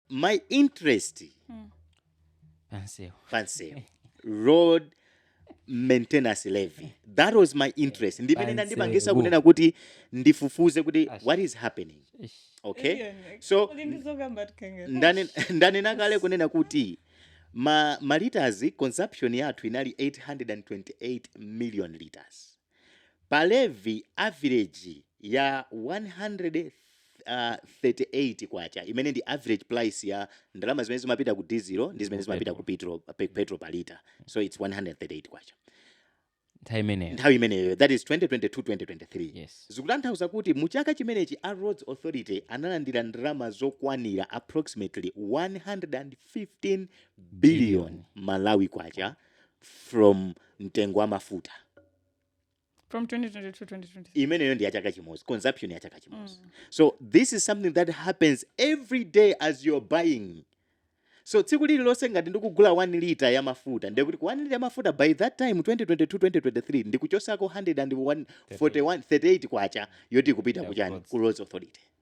my interest pansewu road maintenance levy that was my interest ndimene Pansewu. inandipangisa kunena kuti ndifufuze kuti Ash. what is happening Eish. okay so ndane- ndanena kale kunena kuti ma, ma liters consumption yathu inali 828 million liters Pa levy, average ya K138 imene ndi average price ya ndalama zimene zimapita ku dizilo ndi zimene zimapita ku petrol petrol pa lita. So it's K138 nthawi imeneyo nthawi imeneyo that is 2022 2023 yes. zikutanthauza kuti mu chaka chimenechi a roads authority analandira ndalama zokwanira approximately 115 billion malawi kwacha from mtengo wa mafuta from 2022 2023 imeneyo ndi ya chaka chimodzi consumption ya chaka chimodzi so this is something that happens every day as you're buying so tsiku lililonse ngati ndikugula 1 lita ya mafuta ndiye kuti ku 1 lita ya mafuta by that time 2022 2023 ndikuchosako 138 kwacha yoti ikupita kuchani ku roads authority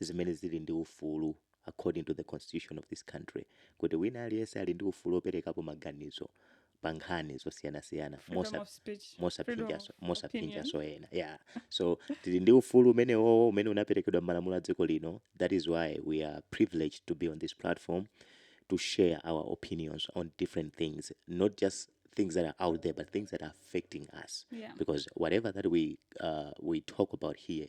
zimene zili ndi ufulu according to the constitution of this country kuti wina aliyense ali ndi ufulu operekapo maganizo pa nkhani zosiyanasiyana Freedom mosa- of speech, freedom mosaphinjaso of mosaphinjaso ena yeah so tili ndi ufulu umenewowo umene unaperekedwa m'malamulo a dziko lino that is why we are privileged to be on this platform to share our opinions on different things not just things that are out there but things that are affecting us Yeah. because whatever that we uh, we talk about here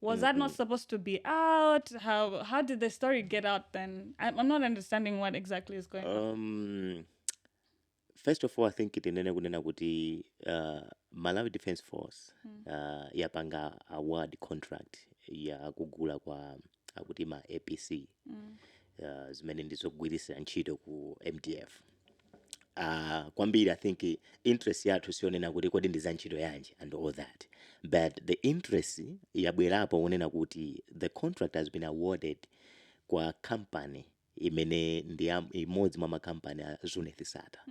Was that not supposed to be out? How how did the story get out then? I'm, I'm not understanding what exactly is going on. Um, first of all, I think tinene kunena kuti uh, Malawi Defense Force uh, yapanga award contract ya kugula kwa akuti ma APC uh, zimene ndizogwirisira ntchito ku MDF. uh, kwambiri i think interest yathu sionena kuti kodi ndi za ntchito yanji and all that but the interest yabwerapo wonena kuti the contract has been awarded kwa company imene ndi ya- imodzi mwa makampani a Zuneth Sattar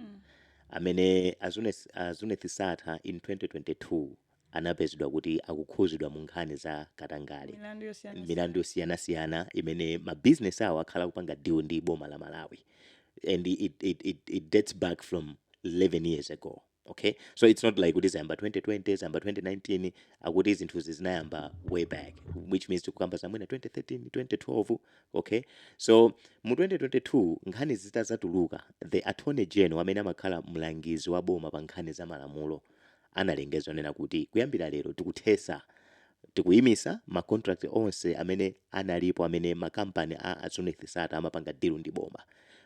amene a Zuneth, a Zuneth Sattar in 2022 anapezedwa kuti akukhuzidwa mu nkhani za katangale, milandu yosiyana siyana imene ma business awo akhala akupanga deal ndi boma la Malawi and it it it it dates back from 11 years ago okay so it's not like kuti zayamba 2020 zayamba 2019 akuti zinthuzi zinayamba way back which means tikukamba za mwina 2013 2012 okay so mu 2022 nkhani zitazatuluka the attorney general amene amakhala mlangizi wa boma pa nkhani za malamulo analengeza onena kuti kuyambira lero tikuthesa, tikuyimisa ma contract onse amene analipo amene ma company a Zuneth Sattar amapanga deal ndi boma.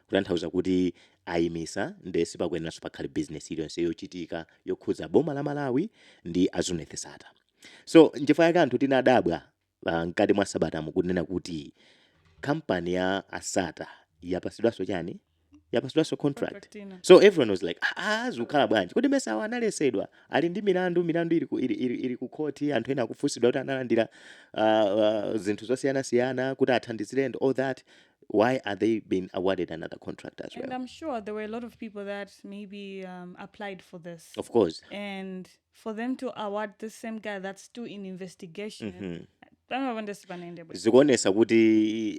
Kutanthauza kuti ayimisa nde sipakuyeneranso pakhale business iliyonse yochitika yokhudza boma la Malawi ndi a Zuneth Sattar. So nchifukwa chake anthu tinadabwa Ah, mkati mwa sabata mu kunena kuti kampani ya a Sattar yapasidwanso chani yapasidwanso contract Contract ina. so everyone was like ah, ah, zikukhala bwanji kodi mmesa awa analesedwa ali ndi milandu milandu ili ku, ili, ili, ili ku khoti anthu ena akufunsidwa kuti analandira uh, uh, zinthu zosiyanasiyana kuti athandizire and all that why are they being awarded another contract as well And I'm sure there were a lot of people that maybe um, applied for this. of course And for them to award the same guy that's still in investigation Mhm. pamwe nde sipanayende bwino zikuonesa kuti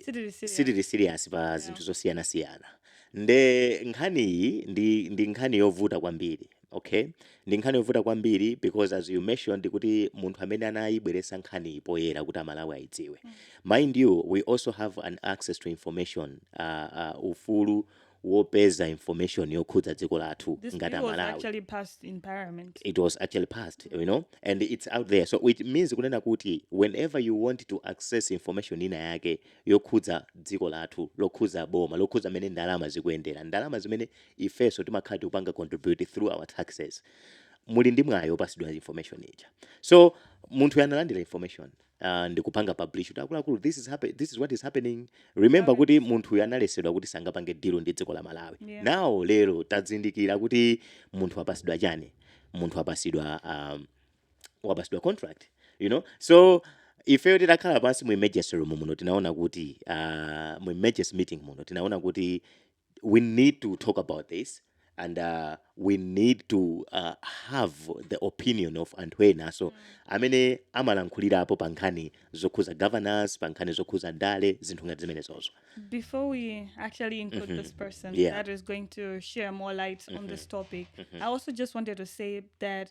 Sitili serious. sitili serious pa zinthu zosiyanasiyana nde nkhani iyi ndi, ndi nkhani yovuta kwambiri okay ndi nkhani yovuta kwambiri because as you mentioned kuti munthu amene anayibweresa nkhaniyi poyera kuti amalawi ayidziwe mind you we also have an access to information uh, uh, ufulu wopeza information yokhudza dziko lathu ngati amalawi This bill was actually passed in parliament. it was actually passed you know and it's out there so which means kunena kuti whenever you want to access information ina yake yokhudza dziko lathu lokhudza boma lokhudza mmene ndalama zikuyendera ndalama zimene ifeso timakhala tikupanga contribute through our taxes muli ndi mwayi opasidwa information ija so munthuyo analandira information uh, ndikupanga publish kuti akuluakulu this is happen, this is what is happening remember kuti munthuyu analesedwa kuti sangapange deal ndi dziko la malawi yeah. now lero tadzindikira kuti munthu wapasidwa chani munthu wapasidwa um, wapasidwa contract you know so ifeyo titakhala pansi mu emergency room muno tinaona kuti uh, mu emergency meeting muno tinaona kuti we need to talk about this and uh, we need to uh, have the opinion of anthu enaso amene amalankhulirapo pa nkhani zokhuza governance pa nkhani zokhuza ndale zinthu ngati zimenezozo Before we actually include this person Yeah. that is going to share more light on this topic, I also just wanted to say that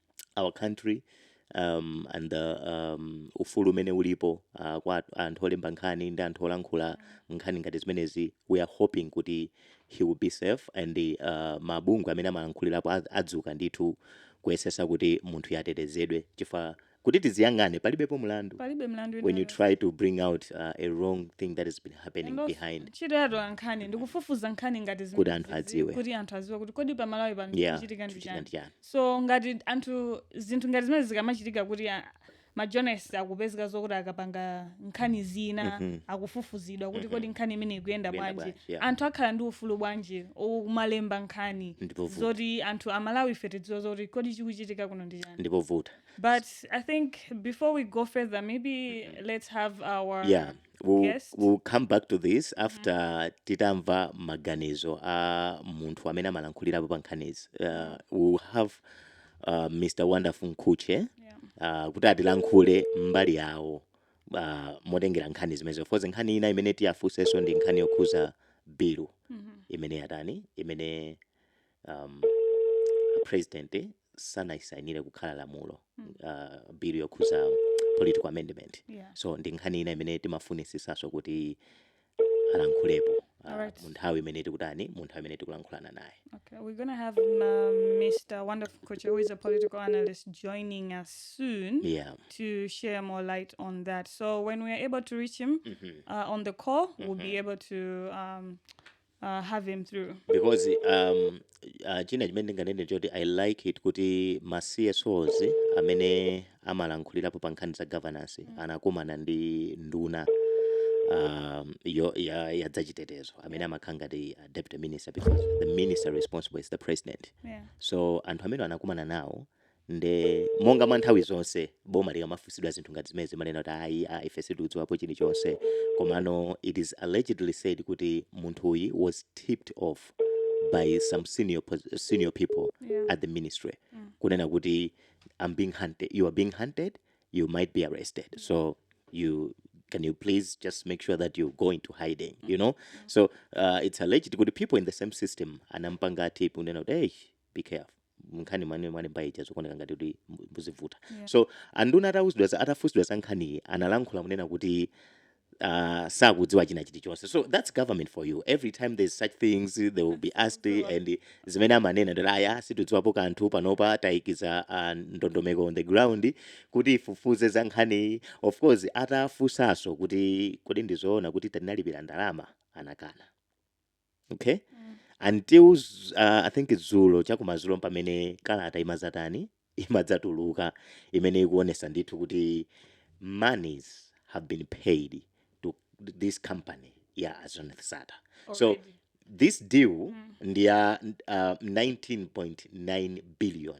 our country um, and the um, ufulu umene ulipo uh, kwa at- anthu olemba nkhani ndi anthu olankhula nkhani ngati zimenezi we are hoping kuti he will be safe and uh, mabungwe amene amalankhulirapo adz- adzuka ndithu kuyesesa kuti munthuyu atetezedwe chifukwa kuti tiziyang'ane palibepo mlandu palibe mlandu when you try to bring out uh, a wrong thing that has been happening behind ntchito ya atola nkhani ndikufufuza nkhani ngati zimenezi, kuti anthu adziwe anthu adziwe kuti kodi pamalawi pano yeah chikuchitika ndi chani chikuchitika ndi chani so ngati anthu zinthu ngati zimenezi zikamachitika kuti a- ma journalist akupezeka zokuti akapanga nkhani zina akufufuzidwa kuti kodi nkhani imeneyi ikuyenda bwanji Ikuyenda bwanji, yeah. anthu akhala ndi ufulu bwanji wokumalemba nkhani Ndi povuta. zoti anthu amalawi ife tidziwe zoti kodi chikuchitika kuno ndi chani ndi povuta But I think before we go further, maybe let's have our Yeah. our guest. we'll come back to this after titamva maganizo a munthu amene amalankhulirapo pa nkhanizi uh, we'll have uh, mr wonderful nkhuche uh, kuti atilankhule mbali yawo uh, motengera nkhani zimenezo of course nkhani ina imene tiyafunsenso ndi nkhani yokhuza bilu imene yatani imene um, president sanayisainire kukhala lamulo uh, bill yokhuza political amendment Yeah. so ndi nkhani ina imene timafunisisaso kuti alankhulepo uh, Alright. mu nthawi imene tikutani mu nthawi imene tikulankhulana naye Okay, we're gonna have um, Mr. Wonderful Nkhuche, who is a political analyst, joining us soon yeah to share more light on that. So when we are able to reach him uh, on the call, we'll be able to um, uh, have him through. because um, uh, china chimene ndinganene choti i like it kuti ma csos amene amalankhulirapo pa nkhani za governance anakumana ndi nduna um, yo, ya, ya dzachitetezo amene amakhala ngati uh, deputy minister because the minister responsible is the president Yeah. so anthu amene anakumana nawo Nde monga mwa nthawi zonse boma likamafunsidwa zinthu ngati zimenezi limanena kuti ayi a ife sitikudziwapo chilichonse komano it is allegedly said kuti munthuyi was tipped off by some senior people yeah. at the ministry mm. kunena kuti I'm being hunted, you are being hunted, you might be arrested so you can you please just make sure that you go into hiding you know so uh, it's alleged kuti people in the same system anampanga tip kunena kuti hey be careful nkhani imene mwalemba ija zikuoneka ngati kuti mu- izivuta Yeah. so anduna atauzidwa za- atafunsidwa za nkhaniyi analankhula kunena kuti uh, sakudziwa china chilichonse so that's government for you every time there's such things they will be asked Sure. and zimene amanena nd'oti aya sitidziwapo kanthu panopa tayikiza uh, ndondomeko on the ground kuti ifufuze za nkhaniyi of course atafunsanso kuti kodi ndizoona kuti tinalipira ndalama anakana okay until z- uh, i think dzulo chakumadzulo pamene kalata imadzatani imadzatuluka imene ikuonesa ndithu kuti monies have been paid to this company ya a Zuneth Sattar so Already. this deal ndi ya uh, 19.9 billion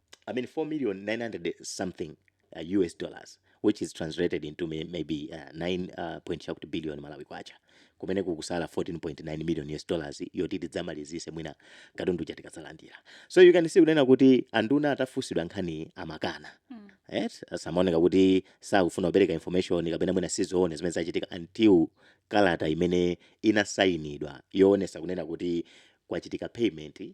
I mean 4 million 900 something uh, US dollars which is translated into may, maybe uh, 9 uh, point chakuti billion malawi kwacha kumene kukusala 14.9 million US dollars yoti tidzamalizise mwina katundu uja tikadzalandira so you can see kunena kuti anduna atafunsidwa nkhani amakana mm. right? amaoneka kuti sakufuna kupereka information kapena mwina sizoona zimene zachitika until kalata imene inasayinidwa yoonesa kunena kuti kwachitika payment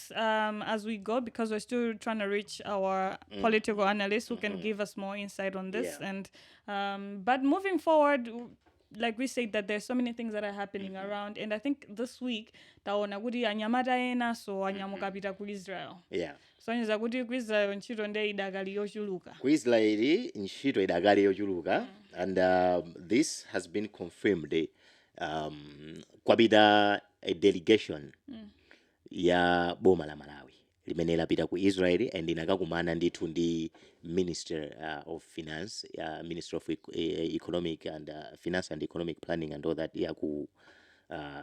talks um, as we go because we're still trying to reach our mm. political analysts who can mm-hmm. give us more insight on this. Yeah. And um, but moving forward, like we said that there's so many things that are happening mm-hmm. around and i think this week taona kuti anyamata ena so mm-hmm. anyamuka pita ku israel yeah sonyeza kuti ku israel ntchito nde idakali yochuluka ku israeli ntchito idakali yochuluka mm. and uh, this has been confirmed um, kwapita a delegation mm. ya boma la Malawi limene lapita ku Israel and inakakumana ndithu ndi minister of finance minister of economic and finance and economic planning and all that ya ku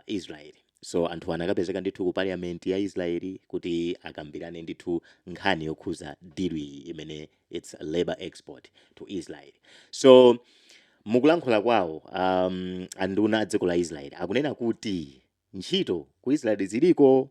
Israel so anthuwa anakapezeka ndithu ku parliament ya Israel kuti akambirane ndithu nkhani yokhuza deal iyi imene its labour export to Israel so mukulankhula kwawo anduna a dziko la Israel akunena kuti ntchito ku Israel ziliko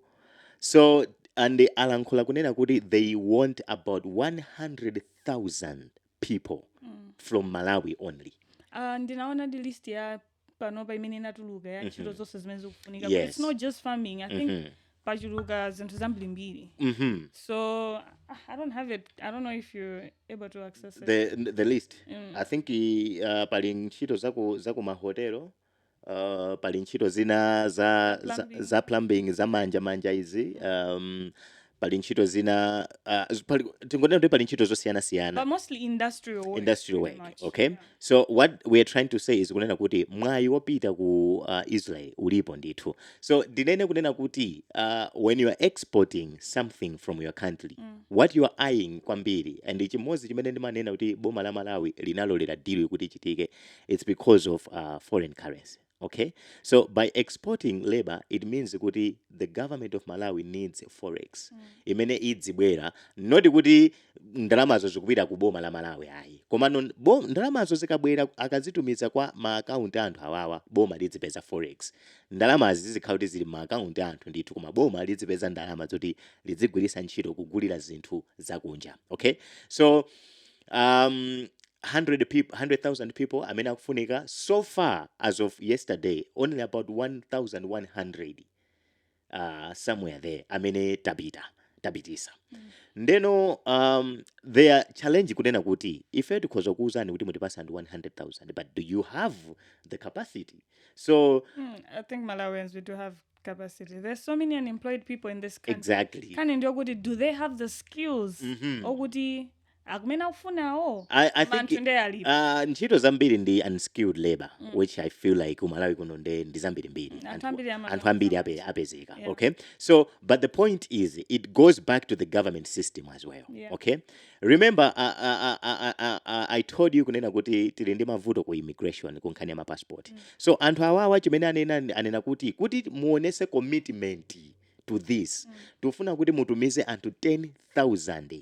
so and alankhula kunena kuti they want about 100,000 people mm. from Malawi only uh, ndinaona ndi list ya panopa imene inatuluka ya ntchito mm -hmm. zonse zimene zikufunika yes. it's not just farming i think mm -hmm pachuluka zinthu zambirimbiri mm -hmm. so i don't have it i don't know if you're able to access it. The, the list mm. i think uh, pali ntchito zaku, zaku mahotelo Uh, pali ntchito zina za, za, Plumbing. za plumbing za manja manja izi um, pali ntchito zina uh, z- pali, tingonena kuti pali ntchito zosiyana siyana But mostly industrial work. industrial pretty work much. okay Yeah. so what we are trying to say is kunena kuti mwayi wopita ku uh, israel ulipo ndithu so ndinene kunena kuti uh, when you are exporting something from your country Mm. what you are eyeing kwambiri and chimodzi chimene ndimanena kuti boma la malawi linalolera deal kuti ichitike it's because of uh, foreign currency okay so by exporting labor it means kuti the government of malawi needs forex mm. imene idzibwera not kuti ndalamazo zikupita ku boma la malawi ayi komano ndalamazo zikabwera akazitumiza kwa maakaunti a anthu awawa boma lidzipeza forex ndalamazi zizikhala kuti zili m'maakaunti a anthu ndithu koma boma lidzipeza ndalama zoti lidzigwirisa ntchito kugulira zinthu zakunja okay so um, 100 people 100,000 people amene akufunika so far as of yesterday only about 1100 uh, somewhere there amene tapita tapitisa mm. ndeno um, their challenge kunena kuti ife tikhoza kuuzani kuti mutipase anthu 100000 but do you have the capacity so mm, i think malawians we do have capacity there's so many unemployed people in this country exactly nkhani ndi yokuti do they have the skills mm -hmm. okuti akumene akufunawo anthu nde alipo uh, ntchito zambiri ndi unskilled labor mm. which i feel like ku Malawi kuno nde ndi zambiri mbiri anthu ambiri ape, apezeka yeah. okay so but the point is it goes back to the government system as well yeah. okay remember uh, uh, uh, uh, uh, i told you kunena kuti tili ndi mavuto ku immigration ku nkhani ya mapassport mm. so anthu awawa chimene anena anena kuti kuti muonese commitment to this mm. tufuna kuti mutumize anthu 10000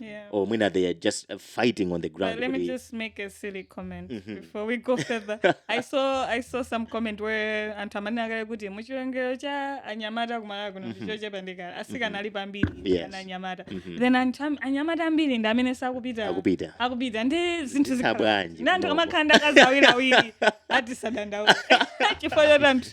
yeah. or mwina they are just uh, fighting on the ground but let me just make a silly comment mm -hmm. before we go further i saw i saw some comment where anthu amanena kale kuti muchiwerengero cha anyamata kumalawi kuno mm-hmm. ndichochepa ndi kale asikana mm-hmm. alipo ambiri yes. anyamata mm -hmm. then anyamata ambiri ndi amene sakupita akupita akupita ndi zinthu zikhala ndi anthu kumakhala ndi akazi awiri awiri atisadandaula chifukwa choti anthu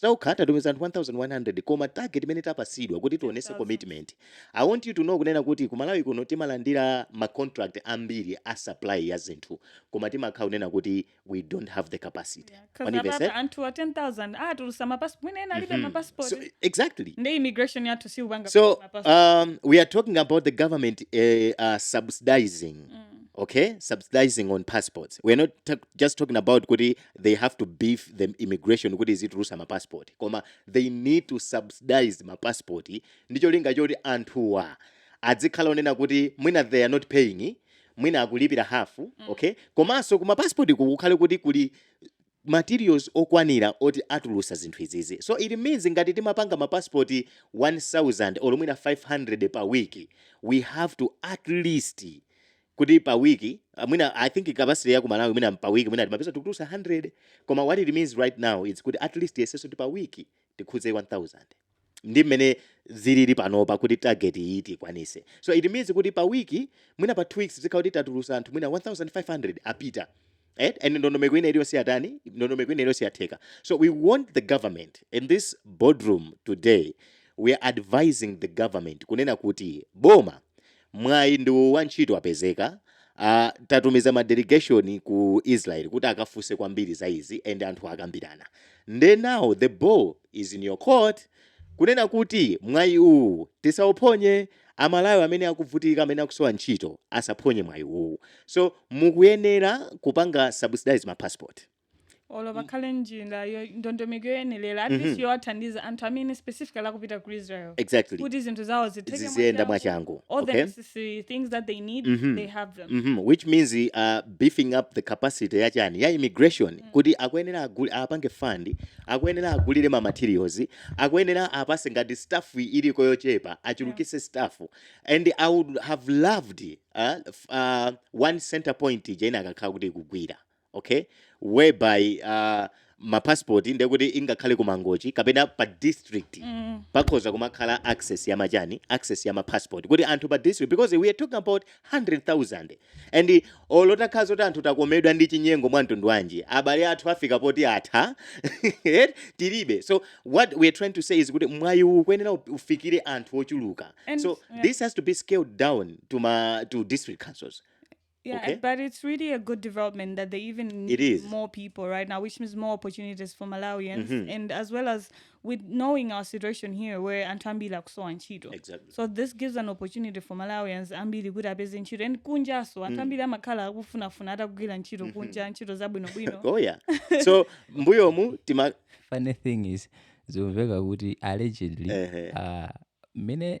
tokha tatumiza anthu 1100 koma target imene tapasidwa kuti tionese commitment i want you to know kunena kuti kumalawi kuno timalandira ma contract ambiri a supply ya zinthu koma timakhala kunena kuti we don't have the capacity yeah, anthu 10000 atulusa mapassport mwina ena alibe mm -hmm. mapassport so, exactly ndi immigration yathu siyupanga so um, we are talking about the government uh, uh, subsidizing mm. okay subsidizing on passports we're not just talking about kuti they have to beef the immigration kuti izitulusa mapassport koma they need to subsidize mapassport ndi cholinga choti anthuwa adzikhala onena kuti mwina they are not paying mwina akulipira hafu mm. okay komanso kuma passport kukukhale kuti kuli materials okwanira oti atuluse zinthu izizi so it means ngati timapanga mapassport 1000 or mwina 500 pa week we have to at least kuti pa week mwina i think capacity ya ku malawi mwina pa week mwina timapeza tikutulusa 100 koma what it means right now is kuti at least yeseseni kuti pa week tikhuze 1000 ndi mmene zilili panopa kuti target iyi tikwanise so it means kuti pa week mwina pa two weeks zikhala kuti tatulusa anthu mwina 1500 apita Eh? And ndondomeko ina iliyonse yatani, ndondomeko ina iliyonse yatheka. So we want the government in this boardroom today, we are advising the government kunena kuti boma mwayi wina wa ntchito wapezeka Uh, tatumiza ma delegation ku Israel kuti akafunse kwambiri za izi and anthu akambirana. Nde now the ball is in your court kunena kuti mwayi uwu tisauphonye amalawi amene akuvutika amene akusowa ntchito asaphonye mwayi uwuwu so mukuyenera kupanga subsidize ma passport. olo pakhale njira yo- ndondomeko yoyenerera at least yowathandiza anthu amene specifically akupita ku israel exactly kuti zinthu zawo zitheke ziziyenda mwachangu all okay? the necessary things that they need they have them Mhm, which means uh, beefing up the capacity ya chani ya immigration kuti akuyenera aguli apange fund akuyenera agulire ma materials Akuyenera apase ngati staff iliko yochepa achulukise staff and i would have loved uh one center point ija ikanakhala kuti ikugwira okay whereby uh, ma passport ndekuti ingakhale ku Mangochi kapena pa district mm. pakhoza kumakhala access ya machani access ya ma passport kuti anthu pa district because we are talking about 100,000 and olo utakhala zoti anthu atakomedwa ndi chinyengo cha mtundu wanji abale athu afika poti atha tilibe so what we're trying to say is kuti mwayi uwu ukuyenera up- ufikire anthu ochuluka And- so yeah. this has to be scaled down to ma to district councils Yeah, Okay. but it's really a good development that they even need is. more people right now, which means more opportunities for Malawians, and as well as with knowing our situation here where anthu ambiri akusowa ntchito Exactly. so this gives an opportunity for malawians ambiri kuti apeze ntchito and kunjanso anthu ambiri amakhala akufunafuna atakagwira ntchito kunja ntchito zabwinobwino oh yeah so mbuyomu tima funny thing is zimamveka kuti allegedly Ehe. ah, mmene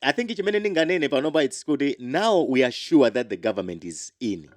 i think chimene ndinganene panopa its kuti now we are sure that the government is in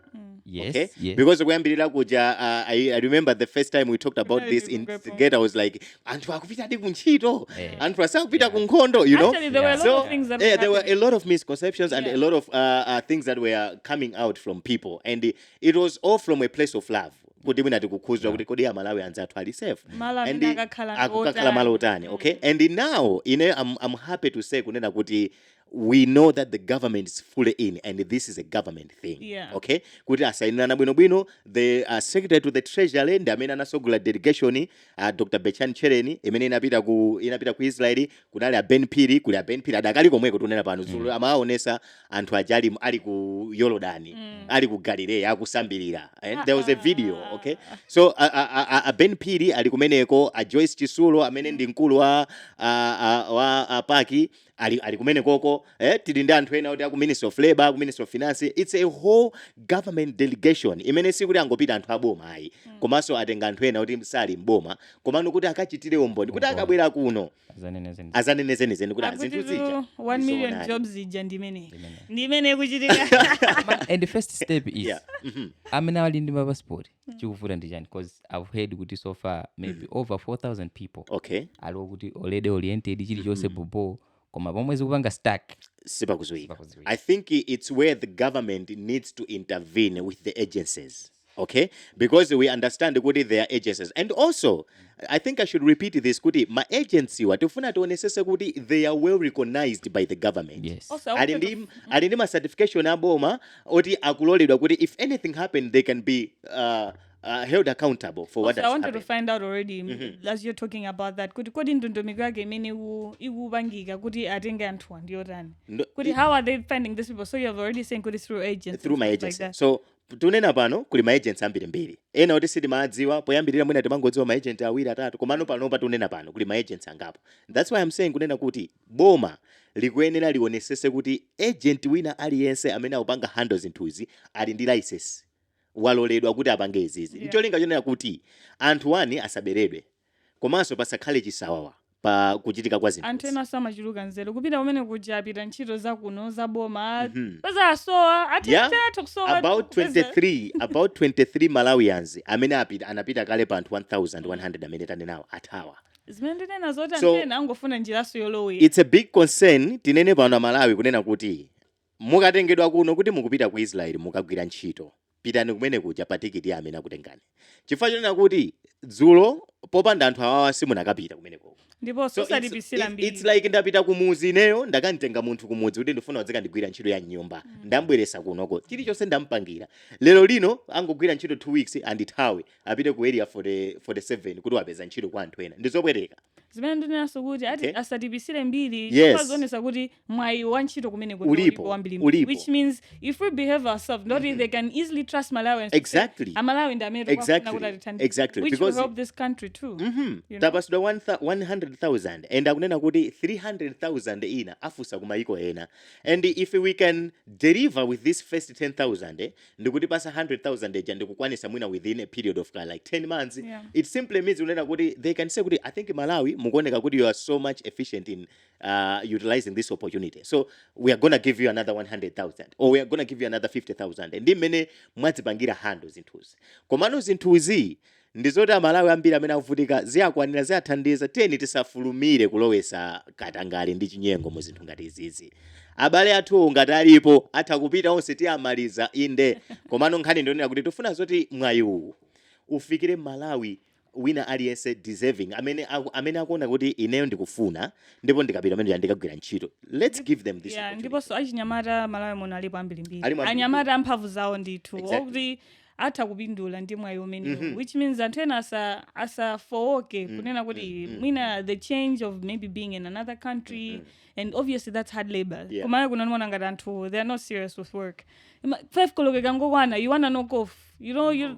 yes okay yes because kuyambirira kuja uh, I, i remember the first time we talked about Kunali this in tikupepo. gate i was like anthu akupitadi ku ntchito Eh. anthu asakupita ku nkhondo you know Actually, there were a lot so of things that yeah, were there were a happening. lot of misconceptions and Yeah. a lot of uh, uh, things that were coming out from people, and it, it was all from a place of love. kuti mwina tikukhuzika kuti kodi amalawi anzathu ali safe malo and amene akakhala akukakhala malo otani okay and now ine I'm, I'm happy to say kunena kuti we know that the government is fully in and this is a government thing Yeah. okay kuti asayinirana bwinobwino the uh, secretary to the treasury ndi amene anasogolera delegation uh, dr Betchani Tchereni imene inapita ku inapita ku israeli kunali a Ben Phiri kuli a Ben Phiri adakali komweko tunena pano dzulo mm. amawaonesa anthu aja ali, ali ku Yorodani mm. ali ku Galileya akusambirira and there was a video ah. okay so a, a, a, a Ben Phiri ali kumeneko a Joyce Chitsulo amene ndi mkulu wa a, a, wa a PAC ali, ali kumenekoko eh, tili ndi anthu ena oti aku ministry of labor aku ministry of finance it's a whole government delegation imene sikuti angopita anthu aboma ayi mm. komanso atenga anthu ena oti sali mboma komano kuti akachitire umboni kuti Umboni. akabwera kuno zanene zeni azanene zenizeni kuti Akuti zinthu zija tu 1 million ndizoonadi. jobs ija ndimene Ndimene. ndimene ikuchitika and first step is Yeah. Mhm. amene ali ndi mapasipoti chikuvuta ndi chani because i've heard kuti so far maybe over 4000 people okay ali okuti already oriented chilichonse bobo koma pomwe zikupanga stuck sipakuziwika Sipakuziwika. i think it's where the government needs to intervene with the agencies okay because we understand kuti there are agencies and also i think i should repeat this kuti ma agency-wa tifuna tionesese kuti they are well recognized by the government yes. Also, ali ndi ali ndi ma certification aboma oti akuloledwa kuti if anything happen they can be uh, uh, held accountable for what also, has I wanted happened. to find out already mm -hmm. as you're talking about that kuti kodi ndondomeko yake imene ikupangika kuti atenge anthuwa ndiyotani kuti how are they finding these people so you have already saying kuti through agents through ma agency like so Tunena pano kuli ma agents ambirimbiri. Ena oti sitimaadziwa, poyambirira mwina tinkangodziwa ma agent awiri atatu komano panopa tunena pano kuli ma agents angapo. That's why am saying kunena kuti boma likuyenera lionesese kuti agent wina aliyense amene akupanga handle zinthuzi ali ndi license, waloledwa kuti apange izizi Yeah. ncholinga chonena kuti anthu onse asaberedwe. komanso pasakhale chisawawa pa kuchitika kwa zinthuzi. anthu ena amachuluka nzeru kupita kumene kuja apita ntchito za kuno za boma Mhm. mupeza asowa Yeah, atitatu kusowa about kupeza- 23 about 23 malawians amene apita anapita kale pa anthu 1100 amene tanenawo athawa zimene ndinena zoti So- anthu ena angofuna njiranso yolowera it's a big concern tinene pano amalawi kunena kuti Mukatengedwa kuno kuti mukupita ku Israeli mukagwira ntchito, pitani kumene kuja pa tikiti ya amene akutengani. Chifukwa chonena kuti, dzulo popanda anthu awawa simunakapita kumene koko. Ndipo So, it's, zosaipitsira it's, it's mbiri. like ndapita kumuzi ineyo ndakamtenga munthu kumudzi kuti ndifuna udzikandigwira ntchito ya mnyumba. Ndambweresa kunoko. Chilichonse ndampangira. Lero lino angogwira ntchito 2 weeks andithawe apite ku area 40, 47 kuti wapeza ntchito kwa anthu ena. Ndizopweteka. Zimene ndinenazo kuti ati Okay. asatiipitsire mbiri. Yes. Chifukwa zaonetsa kuti mwayi wa ntchito kumeneko ndi Ulipo, ulipo wambiri ulipo. which means if we behave ourselves now they can easily trust malawians to say, Exactly. amalawi ndi amene tikufuna Exactly. kuti atithandize," Exactly. which will Because- help this country too Mhm. You know? tapatsidwa 100,000 and akunena kuti 300,000 ina afunsa kumayiko ena and if we can deliver with this first 10,000 eh, ndikutipatsa 100,000 eja ndikukwanitsa mwina within a period of uh, like 10 months Yeah. it simply means kunena kuti they can say kuti i think malawi mukuoneka kuti you are so much efficient in uh, utilizing this opportunity so we are gonna give you another 100000 or we are gonna give you another 50000 ndi mmene mwazipangira handle zinthuzi komano zinthuzi ndizoti amalawi ambiri amene akuvutika ziwakwanira ziwathandiza tiyeni tisafulumire kulowetsa katangale ndi chinyengo mu zinthu ngati izizi abale athu ngati alipo atha kupita onse tiwamaliza inde komano nkhani ndi yonena kuti tifuna zoti mwayi uwu ufikire mmalawi wina aliyense deserving amene aku, amene akuona kuti ineyo ndikufuna ndipo ndikapita kumene ndikagwira ntchito let's give them this yeah, opportunity ndiponso achinyamata mmalawi muno alipo ambirimbiri Alipo ambirimbiri. anyamata amphamvu zawo ndithu Exactly. okuti atha kupindula ndi mwayi umenewu Mhm. which means anthu ena asa- asafowoke Mm, kunena kuti mm, mm, mwina the change of maybe being in another country Mhm. and obviously that's hard labor Yeah. kumalawi kuno ndimaona ngati anthu they are not serious with work Ima- five koloko ikangokwana you wanna knock off you know you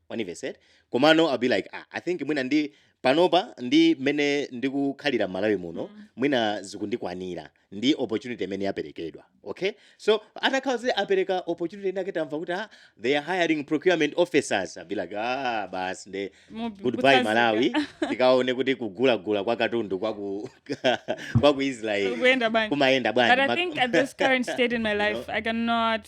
Mwandimvetsetsa? Komano I'll be like ah I think mwina ndi panopa ndi mmene ndikukhalira mmalawi muno mwina zikundikwanira ndi opportunity imene yaperekedwa okay so atakhala kuti apereka opportunity inake tamva kuti ah they are hiring procurement officers I'll be like ah basi nde Mubi- goodbye kutsazika. malawi tikaone kuti kugulagula kwa katundu kwa ku kwa ku israel Kuyenda bwanji. kumayenda But I bwanji think at this current state in my life, I cannot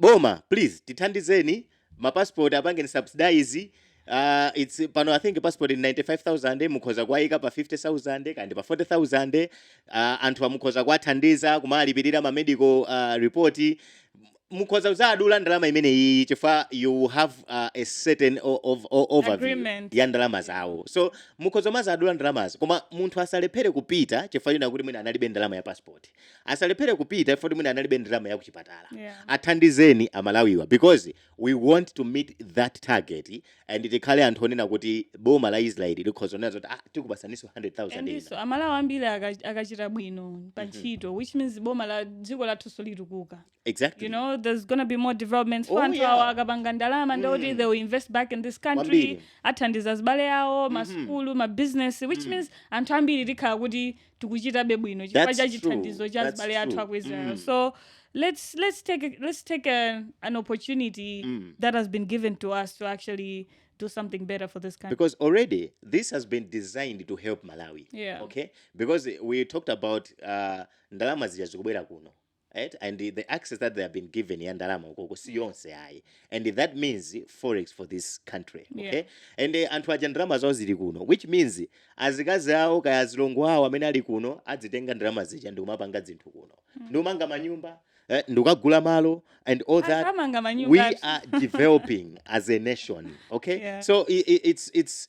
boma please tithandizeni ma passport apangeni subsidize Uh, it's pano I think passport ndi 95000 mukhoza kuayika pa 50000 kaya ndi pa 40000 uh, anthu mukhoza kuathandiza kumalipirira ma medical uh, report mukhoza kuzadula ndalama imene iyi chifukwa you have uh, a certain overview ya ndalama zawo so mukhoza kumazadula ndalamazo koma munthu asalephere kupita chifukwa choti mwina analibe ndalama ya passport asalephere kupita chifukwa choti mwina analibe ndalama ya kuchipatala yeah. athandizeni amalawiwa because we want to meet that target and tikhale anthu onena kuti boma la israeli likhoza kunena zoti ah, tikupasaninso 100000 amalawi ambiri akachita bwino pa mhm. ntchito which means boma la dziko lathunso litukuka exactly you know there's gonna be more developments oh, anthu yeah. awo akapanga ndalama mm. ndi kuti they will invest back in this country athandiza zibale awo masukulu mm-hmm. mabusiness which mm. means anthu ambiri tikhala kuti tikuchitabe bwino chifukwa cha chithandizo cha zibale athu aku israel mm. so let's let's take a, let's take a, an opportunity mm. that has been given to us to actually do something better for this country. Because already this has been designed to help Malawi. Yeah. Okay. Because we talked about uh, ndalama zija zikubwera kuno. et and the access that they have been given ya ndalama ukoko si yonse ayi and that means forex for this country okay Yeah. and eh, anthu aja ndalama zawo zili kuno which means azikazi awo kaya azilongo awo amene ali kuno adzitenga ndalama zija ndikumapanga zinthu kuno ndikumanga manyumba eh, ndikukagula malo and all that Anthu amanga we manyumba. are developing as a nation okay Yeah. so i i it's it's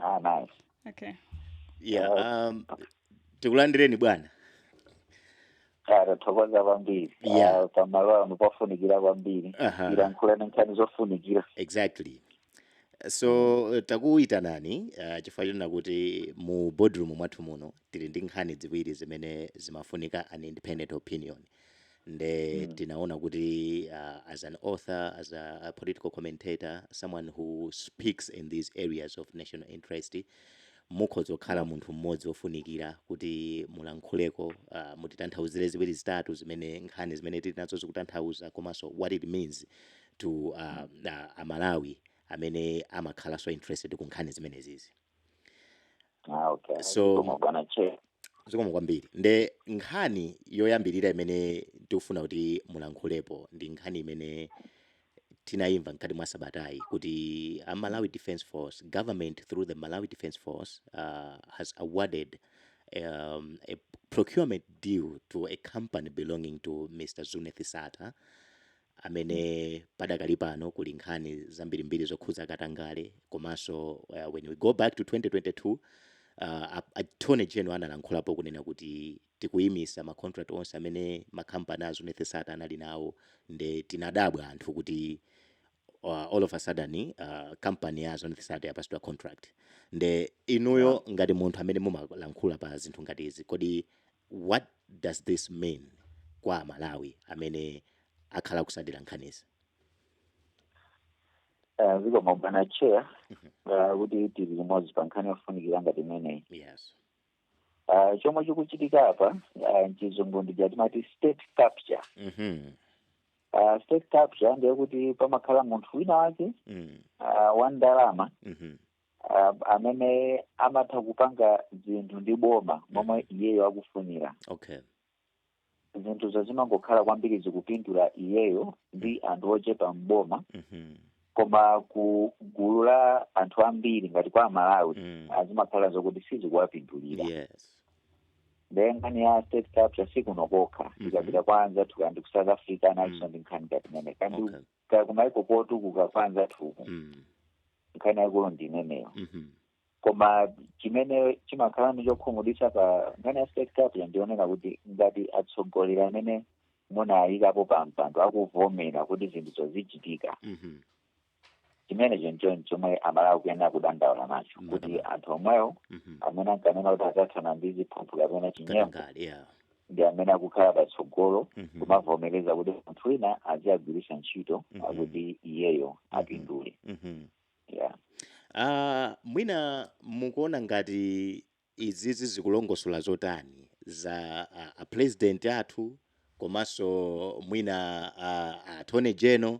Ah, nice. Okay. Yeah, um, tikulandireni bwana. Ah, tathokoza kwambiri Yeah. Ah, pamalo ano pofunikira kwambiri Aha. tilankhulane nkhani zofunikira Exactly. So eh, takuyitanani uh, chifukwa chonena kuti mu boardroom mwathu muno tili ndi nkhani ziwiri zimene zimafunika an independent opinion nde mm. tinaona kuti uh, as an author as a, a political commentator someone who speaks in these areas of national interest mukhoza kukhala munthu mmodzi wofunikira kuti mulankhuleko uh, mutitanthauzire ziwiri zitatu zimene nkhani zimene tili nazo zikutanthauza komanso what it means to uh, uh, amalawi amene amakhalanso interested ku nkhani zimenezizi Ah, okay. So- Zikomo bwana che. zikomo kwambiri nde nkhani yoyambirira imene tikufuna kuti mulankhulepo ndi nkhani imene tinayimva mkati mwa sabatayi kuti a malawi defence force government through the malawi defence force uh, has awarded um, a procurement deal to a company belonging to mr zuneth sattar amene padakali pano kuli nkhani zambirimbiri zokhudza katangale komanso uh, when we go back to 2022 uh, attorney general analankhulapo kunena kuti tikuyimisa ma contract onse amene ma company a Zuneth Sattar anali nawo nde tinadabwa anthu kuti uh, all of a sudden uh, company ya Zuneth Sattar yapatsidwa contract nde inuyo ngati munthu amene mumalankhula pa zinthu ngati izi kodi What does this mean kwa amalawi amene akhala akutsatira nkhanizi? Eh, zikomo bwana chair eh, kuti tili limodzi pa nkhani yofunikira ngati imeneyi Yes. Ah, chomwe chikuchitika apa ah, mchizungu ndija timati state capture Mhm. Ah, state capture ndiye kuti pamakhala munthu wina wake Mm. ah, wa ndalama Mhm. um, amene amatha kupanga zinthu ndi boma momwe iyeyo akufunira okay zinthuzo zimangokhala kwambiri zikupindula iyeyo ndi anthu ochepa mboma Mhm. koma ku gulu la anthu ambiri ngati kwa amalawi Mm. zimakhala zokuti sizikuwapindulira yes ndiye nkhani ya state capture sikuno kokha Mhm. tikapita kwa anzathu ngati ku South Africa nakonso ndi nkhani ngati imene kandi okay kaya kumaiko otukuka kwa anzathuku Mm. nkhani yaikulu ndi imeneyo Mhm. koma chimene chimakhala ndi chokhumudwitsa pa nkhani ya state capture ndi chonena kuti ngati atsogoleri amene munawayikapo pa mpando akuvomera kuti zinthuzo zizichitika Mhm. chimenecho ndi chomwe amalawi akuyenera kudandaula nacho kuti Mhm. anthu omwewo Mhm. amene ankanena kuti adzathana ndi ziphuphu kapena chinyengo Katangale, yeah. ndi amene akukhala patsogolo Mhm. kumavomereza kuti munthu wina aziwagwiritsa ntchito Mhm. kuti iyeyo apindule Mhm. yeah. Ah, mwina mukuona ngati izizi zikulongosola zotani za ah, a president athu komanso mwina ah, a attorney general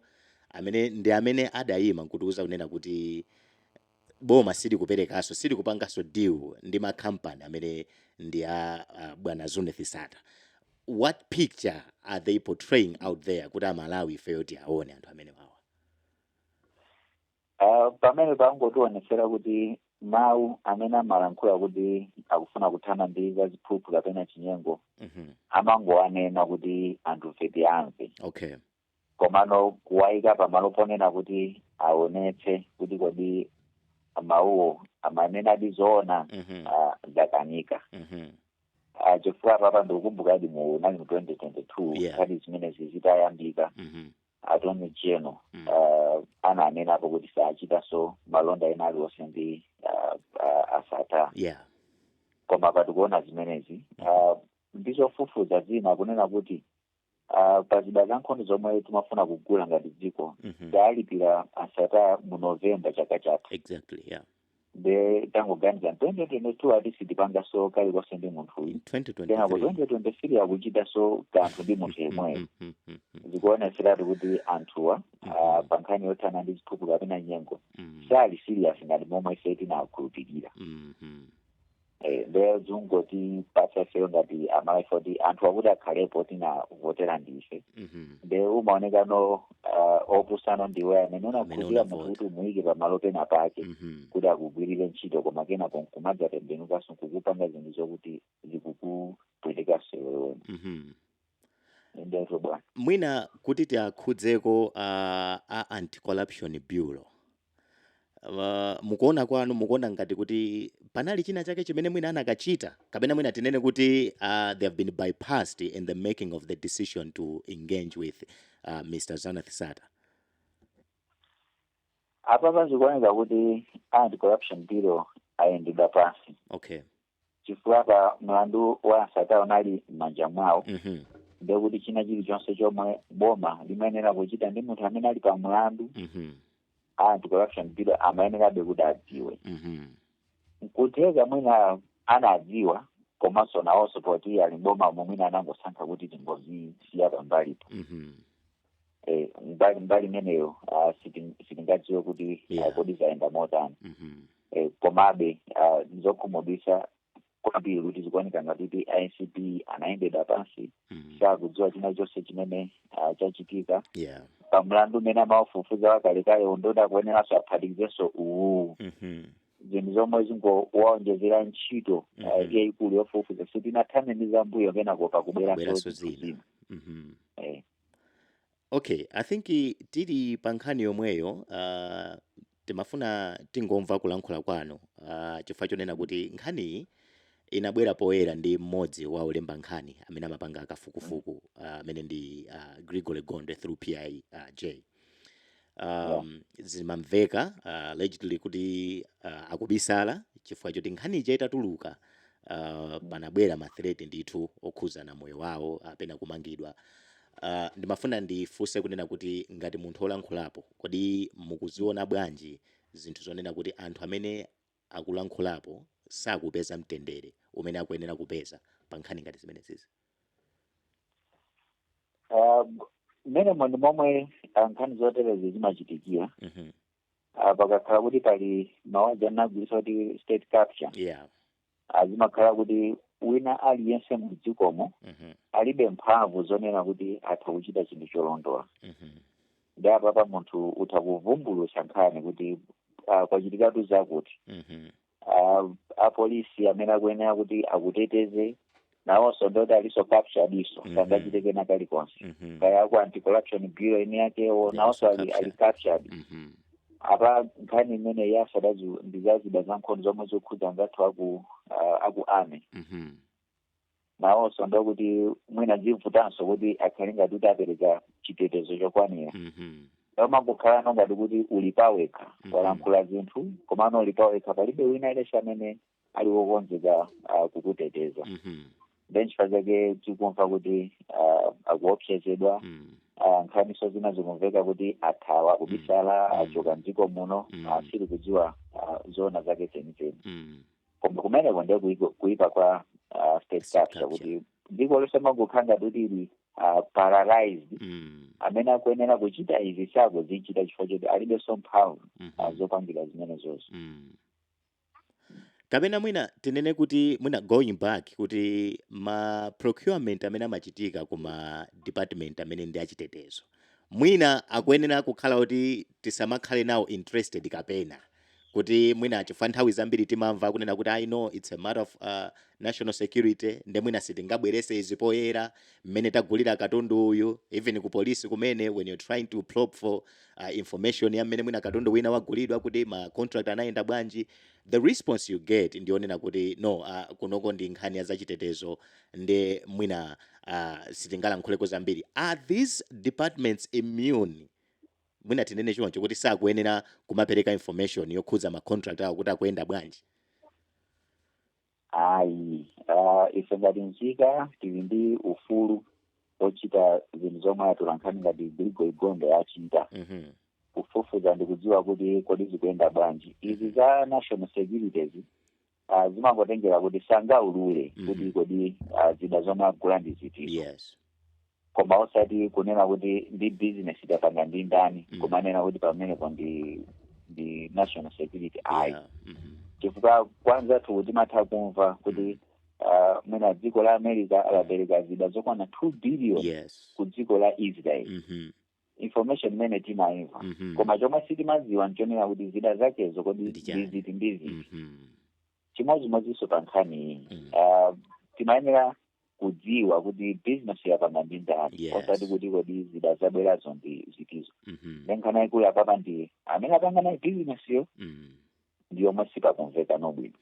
amene ndi amene adayima nkutiuza kunena kuti boma silikuperekaso silikupangaso deal ndi ma company amene ndi a bwana Zuneth Sattar what picture are they portraying out there kuti amalawi ifeyo tiwaone anthu amenewawa Uh, pamenepa angotionetsera kuti mawu amene amalankhula kuti akufuna kuthana ndi za ziphuphu kapena chinyengo Mhm. amangowanena kuti anthufe tiwamve okay komano kuwaika pamalo ponena kuti aonetse kuti kodi mawuwo amanenadi zoona Mhm. ah, zakanika Mhm. Ah, chifukwa apapa ndikukumbukadi mu unali mu 2022 Yeah. nkhani zimenezi zitayambika Mhm. attorney general Mm. uh, ananenapo kuti sachitanso malonda ena aliwonse ndi uh, uh, a Sattar Yeah. koma apa tikuona zimenezi uh, ndizofufuza zina kunena kuti Ah, pa zida za nkhondo zomwe timafuna kugula ngati dziko Mhm. tawalipira a Sattar mu novemba chaka chatha exactly yeah nde tangoganiza 2022 ati sitipangaso kalikonse ndi munthu uyu kenako 2023 2023 akuchitaso kanthu ndi munthu yemweyo Mm, mm, mm, mm, zikuonetseratu kuti anthuwa ah, pa nkhani yothana ndi ziphuphu kapena chinyengo mm, sali serious ngati momwe ife tinakhulupirira mm, mm. Eh, ndiye zikungotipatsa ifeyo ngati aMalawi oti anthu akuti akhalepo tinavotera ndife Mhm. nde umaonekano uh, opusa ndiwe amene unakhulupirira unavota. munthu kuti umuyike pamalo pena pake Mhm. kuti akugwirire ntchito koma kenako nkumadzatembenukanso nkukupanga zinthu zokuti zikukupwetekaso iwewe Mhm. ndizo bwana mwina kuti tiakhudzeko uh, a anti corruption bureau Uh, mukuona kwanu mukuona ngati kuti panali china chake chimene mwina anakachita kapena mwina tinene kuti uh, they have been bypassed in the making of the decision to engage with uh, Mr. Zuneth Sattar apapa zikuoneka kuti anti corruption bureau ayendedwa pansi okay chifukwa pa mlandu wa a Sattar unali m'manja mwawo Mhm. ndekuti china chilichonse chomwe boma limayenera kuchita ndi munthu amene ali pa mlandu Mhm. anti corruption bureau amayenerabe kuti adziwe Mhm. nkutheka mwina anadziwa komanso nawonso poti ali mboma momwemo mwina anangosankha kuti tingozisiya pambalipo Mhm. eh, mbali mbali imeneyo ah, sitin- sitingadziwe kuti Yeah. ah, kodi zayenda motani Mhm. eh, komabe ah, ndizokhumudwitsa kwambiri kuti zikuoneka ngati kuti ACB anayendedwa pansi Mhm. sakudziwa china chilichonse chimene ah, chachitika Yeah. pa mlandu umene amaufufuza wakalekale uja nde akuyeneranso aphatikizenso uwu Mhm. zinthu zomwe zikungowaonjezera ntchito Mhm. ah, yayikulu yofufuza sitinathane nzambuyo kenako pakubweranso Kubweranso zinthu zina. zina Mhm. Eh, Okay, I think tili pa nkhani yomweyo uh, timafuna tingomva kulankhula kwanu uh, chifukwa chonena kuti nkhaniyi inabwera poyera ndi mmodzi wa olemba nkhani amene amapanga kafukufuku uh, amene uh, ndi uh, Gregory Gondwe through PIJ uh, Yeah. um, zimamveka uh, allegedly kuti uh, akubisala chifukwa choti nkhani ija itatuluka uh, panabwera mathireti ndithu okhudzana moyo wawo kapena kumangidwa uh, ndimafuna ndifunse kunena kuti ngati munthu olankhulapo kodi mukuziona bwanji zinthu zonena kuti anthu amene akulankhulapo sakupeza mtendere umene akuyenera kupeza pa nkhani ngati zimenezizi Ah, mmenemo ndi momwe ah, nkhani zoterezi zimachitikira Mhm. ah, pakakhala kuti pali mawu aja amagwiritsa kuti state capture yeah ah, zimakhala kuti wina aliyense mu dzikomo Mhm. alibe mphamvu zonena kuti atha kuchita chinthu cholondola Mhm. ndi apapa munthu utha kuvumbulusa nkhani kuti ah, kwachitikatu zakuti Mhm. ah, apolisi amene akuyenera kuti akuteteze nawonso ndoti aliso capturediso Mhm. sangachite kena kalikonse Mhm. kaya ku anti corruption bureau eni yakewo Yes, nawonso ali captured. ali captured Mhm. apa nkhani imene yasadayi ndizazida za nkhondo zomwe zokhudza anzathu aku ah, aku army Mhm. nawonso ndo kuti mwina zivutanso kuti akhale ngati kuti apereka chitetezo chokwanira Mhm. umangokhala no ngati kuti uli pawekha Mhm. walankhula zinthu komano uli pawekha palibe wina aliyense amene ali wokonzeka ah, kukuteteza Mhm. then chifukwa chake tikumva kuti ah, akuopsezedwa Mm. ah, nkhaniso zina zikumveka kuti athawa kubisala Mm. achoka mdziko muno Mm. ah, sitikudziwa ah, zoona zake zenizeni Mm. koma kumeneko ndiye kuipa- kuipa kwa uh, state State capture capture. kuti dziko lonse limangokhala kuti ili uh, paralyzed Mm. amene akuyenera kuchita izi sakuzichita chifukwa choti alibenso mphamvu Mhm. uh, zopangira zimenezozo Mm. kapena mwina tinene kuti mwina going back kuti ma procurement amene amachitika ku ma department amene ndi achitetezo mwina akuyenera kukhala kuti tisamakhale nawo interested kapena kuti mwina chifukwa nthawi zambiri timamva akunena kuti ayi no it's a matter of uh, national security nde mwina sitingabwerese izi poyera mmene tagulira katundu uyu even ku polisi kumene when you're trying to probe for uh, information ya mmene mwina katundu wina wagulidwa kuti ma contract anayenda bwanji the response you get ndi yonena kuti no uh, kunoko ndi nkhani ya zachitetezo nde mwina uh, sitingalankhuleko zambiri are these departments immune mwina tinene choncho kuti sakuyenera kumapereka information yokhudza ma contract awo kuti akuyenda bwanji ayi ah, ife ngati nzika tili ndi ufulu ochita zinthu zomwe atolankhani ngati Gregory Gondwe achita Mhm. kufufuza ndikudziwa kuti kodi zikuyenda bwanji izi za national securities ah, zimangotengera kuti sangaulule Mhm. kuti kodi ah, zida zomwe agula ndi zitizo yes koma osati kunena kuti ndi business adapanga ndi ndani Mhm. kumanena kuti pamenepo ndi ndi national security ayi yeah. Mhm. chifukwa kwa anzathu timatha kumva kuti ah, mwina dziko la america lapereka zida zokwana 2 billion yes ku dziko la israel Mhm. information imene timaimva Mhm. koma chomwe sitimadziwa nchonena kuti zida zakezo kodi Ndi chani? ndiziti ndiziti Mhm. chimodzimodzinso pa nkhani iyi Mm. Ah, timayenera kudziwa kuti business yo apanga ndi ndani Yes. osati kuti kodi zida zabwerazo ndi zitizo Mhm. nde nkhani yaikulu apapa ndi amene apanga naye business yo Mhm. ndi yomwe sipakumvekano bwino.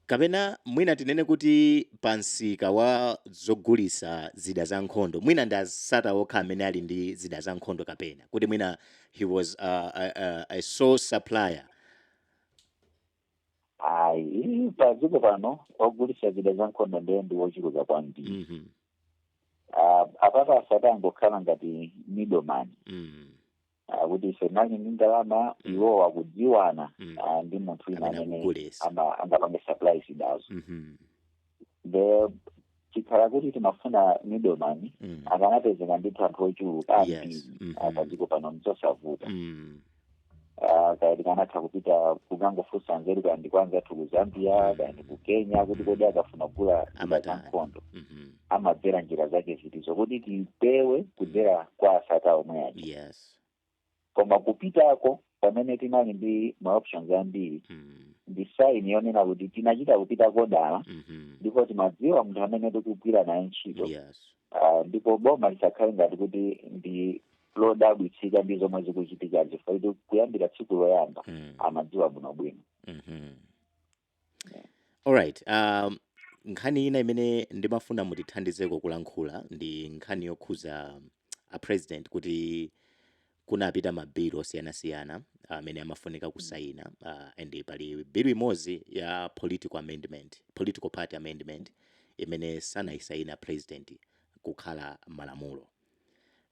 Kapena mwina tinene kuti pa msika wa zogulisa zida za nkhondo, mwina ndi a Sattar okha amene ali ndi zida za nkhondo kapena, kuti mwina he was a, a, a, a sole supplier? Ayi, pa dziko pano ogulisa zida za nkhondo ndiye ndi wochuluka kwambiri. Mm -hmm. Uh, apapa a Sattar angokhala ngati middleman. Mm -hmm. kuti ife muli ndi ndalama Mm. iwo akudziwana Mm. ah, ndi munthu wina Amene amene akugulitsa. ama- angapange supply zidazo Mhm. nde chikhala kuti timafuna middleman Mm. akanapezeka ndithu anthu ochuluka Yes. ambiri Mhm. ah, padziko pano nzosavuta Mm. Ah, kaya tikanatha kupita kukangofunsa nzeru kaya ndi kwa anzathu ku Zambia Mm. kaya ndi ku Kenya kuti kodi akafuna kugula zida za Amatani. nkhondo Mhm. amadzera njira zake zitizo kuti tipewe kudzera kwa a Sattar omwe aja yes koma kupitako pamene tinali ndi ma options ambiri mm. ndi sign yonena kuti tinachita kupitako dala mhm. ndipo timadziwa munthu amene tikugwira naye ntchito yes Ah, ndipo boma lisakhale ngati kuti ndi lodabwitsika ndi zomwe zikuchitikazi chifukwa kuti kuyambira tsiku loyamba Mm. amadziwa bwinobwino mhm. Alright, um, nkhani ina imene ndimafuna mutithandizeko kulankhula ndi nkhani yokhuza um, a president kuti kunapita mabilu osiyanasiyana amene amafunika kusaina uh, and pali bilu imodzi ya political amendment, political party amendment imene sanayisaine a president kukhala malamulo.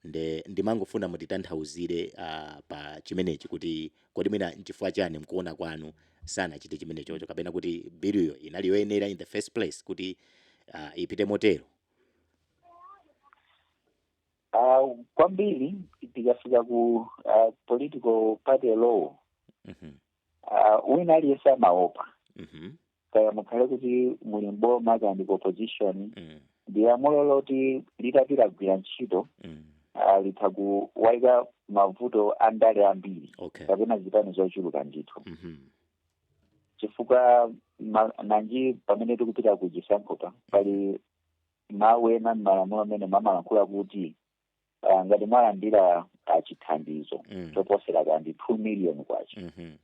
Nde ndimangofuna mutitanthauzire a pa chimenechi kuti kodi mwina nchifukwa chani mkuona kwanu sanachite chimenechocho kapena kuti biluyo inali yoyenera in the first place kuti a ipite motero? A kwambiri tikafika ku a political party law, Ah, wina aliyense amaopa Mhm. kaya mukhale kuti muli mboma kaya ndi ku opposition Mm. ndi lamulo loti litati lagwira ntchito Mm. ah, litha kuwaika mavuto a ndale ambiri Okay. kapena zipani zochuluka ndithu Mhm. chifukwa ma- nanji pamene tikupita ku chisankhopa pali mawu ena m'malamulo amene amalankhula kuti ah, ngati mwalandira ah, chithandizo Mm. choposera kapena ndi two million kwacha Mhm.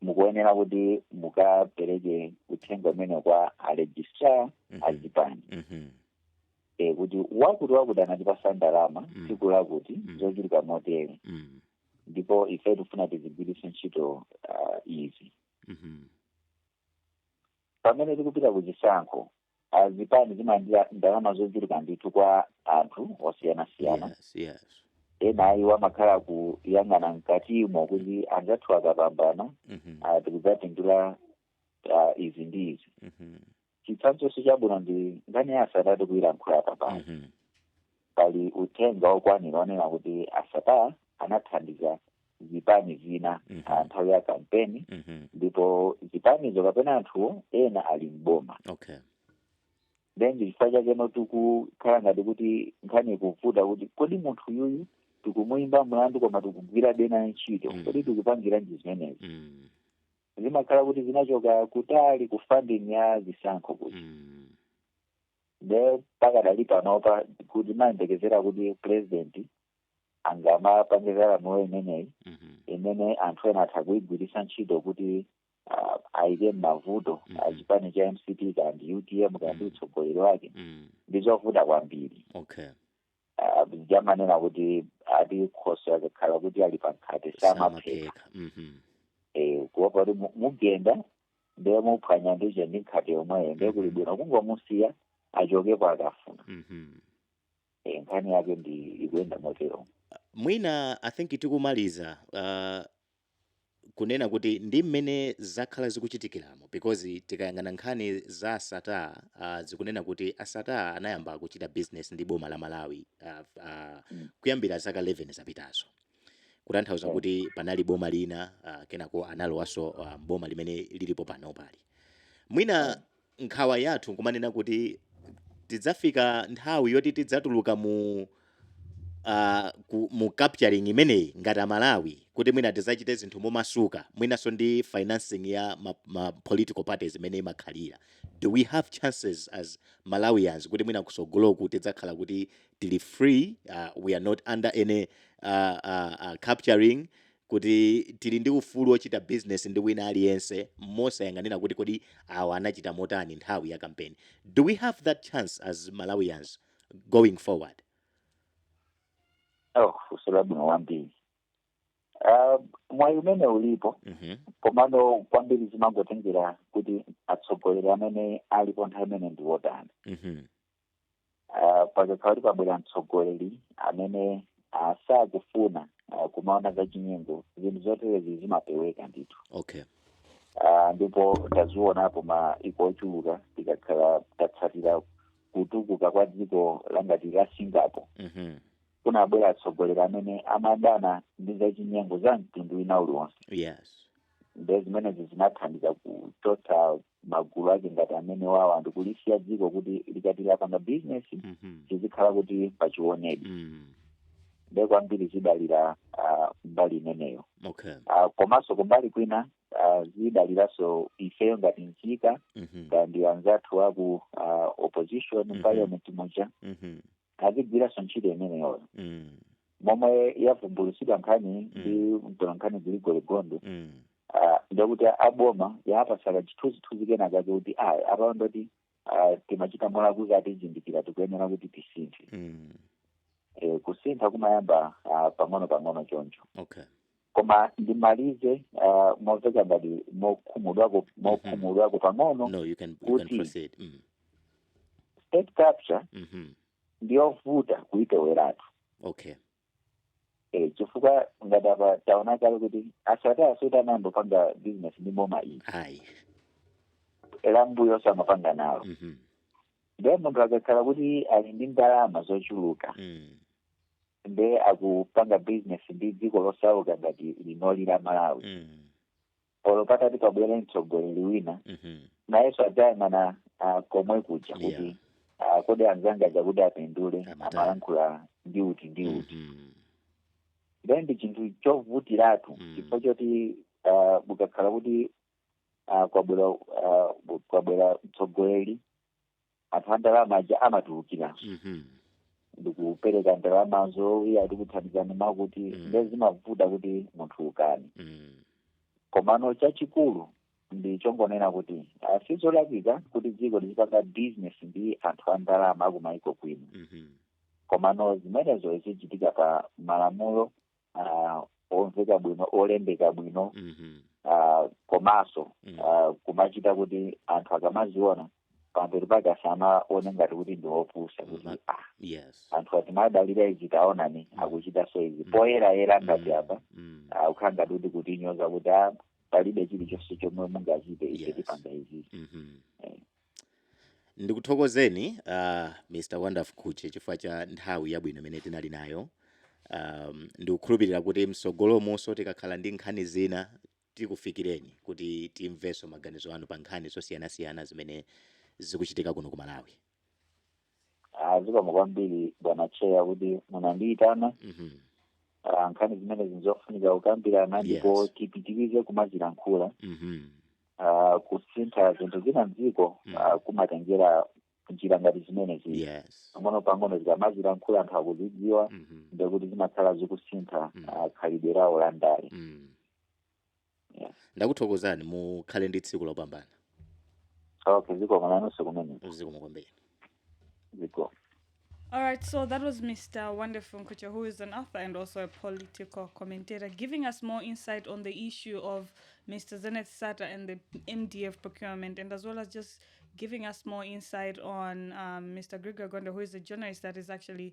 mukuyenera kuti mukapereke uthenga umenewu kwa a registrar Mhm. a zipani Mhm. e, kuti wakuti wakuti anatipasa ndalama Mm. tsiku lakuti Mm. zochuluka motere Mm. ndipo ife tifuna tizigwiritse ntchito ah, izi Mhm. pamene tikupita ku chisankho ah, zipani zimalandira ndalama zochuluka ndithu kwa anthu osiyanasiyana yes yes ena a iwo amakhala akuyang'ana mkatimo kuti anzathu akapambana Mhm, ah, tikadzapindula ah, izi ndi izi mhm, chitsanzo chabwino ndi nkhani ya a Sattar tikuyilankhula panopa mhm, pali uthenga wokwanira onena kuti a Sattar anathandiza zipani zina mm -hmm. nthawi ya kampeni mm -hmm. ndipo zipanizo kapena anthuwo ena ali mboma okay ndi chifukwa chake pano tikukhala ngati kuti nkhani ikuvuta kuti kodi munthu uyu tikumuyimba mlandu koma tikugwira nayenso ntchito mm. kodi tikupangiranji zimenezi mm. zimakhala kuti zinachoka kutali ku funding ya zisankho kuti mm. nde pakadali panopa kuti timayembekezera kuti president angapange za lamulo imeneyi Mhm. imene anthu ena atha kuyigwiritsa ntchito kuti ah, ayiike m'mavuto Mhm. a chipani cha mcp kaya ndi utm kaya ndi Mhm. utsogoleri wake Mm. ndi zovuta kwambiri Okay. Ah, paja amanena kuti ati khoswe akakhala kuti ali pa nkhate samapheka Samapheka. Mhm. Eh, kuopa kuti mu- mugenda ndiye muphwanya ndithu ndi nkhate yomweyo ndiye kuli Mhm. bwino kungomusiya achokepo akafuna Mhm. Eh, nkhani yake nde ikuyenda motero mwina i think tikumaliza uh, kunena kuti ndi mmene zakhala zikuchitikiramo because tikayang'ana nkhani za a Sattar uh, zikunena kuti a Sattar anayamba kuchita business ndi boma la malawi uh, uh, Mm. kuyambira zaka 11 zapitazo kutanthauza Eh, kuti panali boma lina uh, kenako analowaso uh, boma limene lilipo panopali eh, mwina Nkhawa yathu nkumanena kuti tidzafika nthawi yoti tidzatuluka mu a ku mu capturing imeneyi ngati a Malawi kuti mwina tidzachite zinthu momasuka mwinanso ndi financing ya ma, ma political parties imene imakhalira. Do we have chances as Malawians kuti mwina kusogoloku tidzakhala kuti tili free uh, we are not under any uh, uh, uh, capturing kuti tili ndi ufulu wochita bizinesi ndi wina aliyense mosayang'anira kuti kodi awa anachita motani nthawi ya kampeni. Do we have that chance as Malawians going forward? Oh, funso labwino kwambiri. Uh, mwayi umene ulipo Mhm. komano kwambiri zimangotengera kuti atsogoleri amene alipo nthawi imeneyo ndi wotani Mhm. uh, pakakhala kuti pabwera mtsogoleri amene uh, sakufuna uh, kumaona za chinyengo zinthu zoterezi zimapeweka ndithu okay Ah, ndipo tazionapo maiko ochuluka tikakhala tatsatira kutukuka kwa dziko la ngati la singapore mhm kunabwera atsogoleri amene amadana ndi zachinyengo za mtundu wina uliwonse yes nde zimenezi zinathandiza kuchotsa magulu ake ngati amene wawa ndikulisiya dziko kuti likati lapanga bizinesi Mhm. zizikhala kuti pa chiwonedi Mm. nde kwambiri zidalira ah, mbali imeneyo Okay. Ah, komanso kumbali kwina ah, zidaliranso ifeyo ngati nzika Mhm. ndi anzathu aku ah, opposition Mhm. parliament muja Mhm. azigwiranso ntchito imeneyoyo Mm. momwe yavumbulutsidwa nkhani ndi mtolankhani Gregory Gondwe Mm. ah, ndekuti aboma yapatsako chithunzithunzi kena kake kuti ayi apapo ndoti ah, timachita molakwitsa atizindikira tikuyenera kuti tisinthe Mm. Eh, kusintha kumayamba ah, pang'ono pang'ono choncho Okay. koma ndimalize uh, momveka ngati mokhumudwako mokhumudwako pang'ono no you can, you can Kuti- proceed mm. state capture mm-hmm. ndiyovuta kuipeweratu okay eh, chifukwa ngati apa taona kale kuti asati asati anayamba kupanga business ndi boma iyi ayi lambuyonso amapanga nalo mm-hmm. ndiye munthu akakhala kuti ali ndi ndalama zochuluka mm. nde akupanga business ndi dziko losauka ngati linoli la malawi Mm. olo patati pabwere mtsogoleri wina Mhm. nayenso adzayang'ana ah, komwe kuja Yeah. kuti ah, kodi anzanga aja kuti apindule Amatani. amalankhula ndi uti ndi uti Mhm. then ndi chinthu chovutiratu Mm. chifukwa choti ah, ukakhala kuti ah, kwabwera ah, bu- kwabwera mtsogoleri anthu a ndalama aja amatulukira Mhm. ndikupereka ndalamazo iye ati kuthandizani mwakuti Mm. nde zimavuta kuti munthu ukane Mm. komano chachikulu ndi chongonena kuti ah, si zolakwika kuti dziko lizipanga bizinesi ndi anthu a ndalama akumaiko kwina Mhm. komano zimenezo zizichitika pa malamulo ah, omveka bwino olembeka bwino Mhm. ah, komanso Mm. ah, kumachita kuti anthu akamaziona pambuyo pake asamaone ngati kuti ndi opusa kuti Ma- ah, yes anthu aja timadalira izi taonani akuchitanso izi poyerayera ngati Mm. apa Mm. ah, kukhala ngati kuti kutinyoza kuti ah, palibe chilichonse chomwe mungachite ife Yes. tipanga izi Mhm. Ndikuthokozeni a Mr Wonderful Mkhutche chifukwa cha nthawi yabwino imene tinali nayo. Ahm, ndikukhulupirira kuti mtsogolomunso tikakhala ndi nkhani zina tikufikireni kuti timvenso maganizo anu pa nkhani zosiyanasiyana zimene zikuchitika kuno ku Malawi. Ah, zikomo kwambiri bwana cheya kuti munandiyitana Mhm. Ah, nkhani zimenezi nzofunika kukambirana Yes. ndipo tipitirize kumazilankhula Mhm. Ah, kusintha zinthu zina mdziko Mm. ah, kumatengera njira ngati zimenezi Yes. pang'ono pang'ono zikamazilankhula anthu akuzidziwa Mhm. ndekuti zimakhala zikusintha Mm. ah, khalidwe lawo la ndale Mm. ndakuthokozani mukhale ndi tsiku lopambana okay zikomo nanonso kumene uziku mukombeni zikomo All right, so that was Mr. Wonderful Nkucha, who is an author and also a political commentator, giving us more insight on the issue of Mr. Zenith Sata and the MDF procurement, and as well as just giving us more insight on um, Mr. Grigor Gonda, who is a journalist that is actually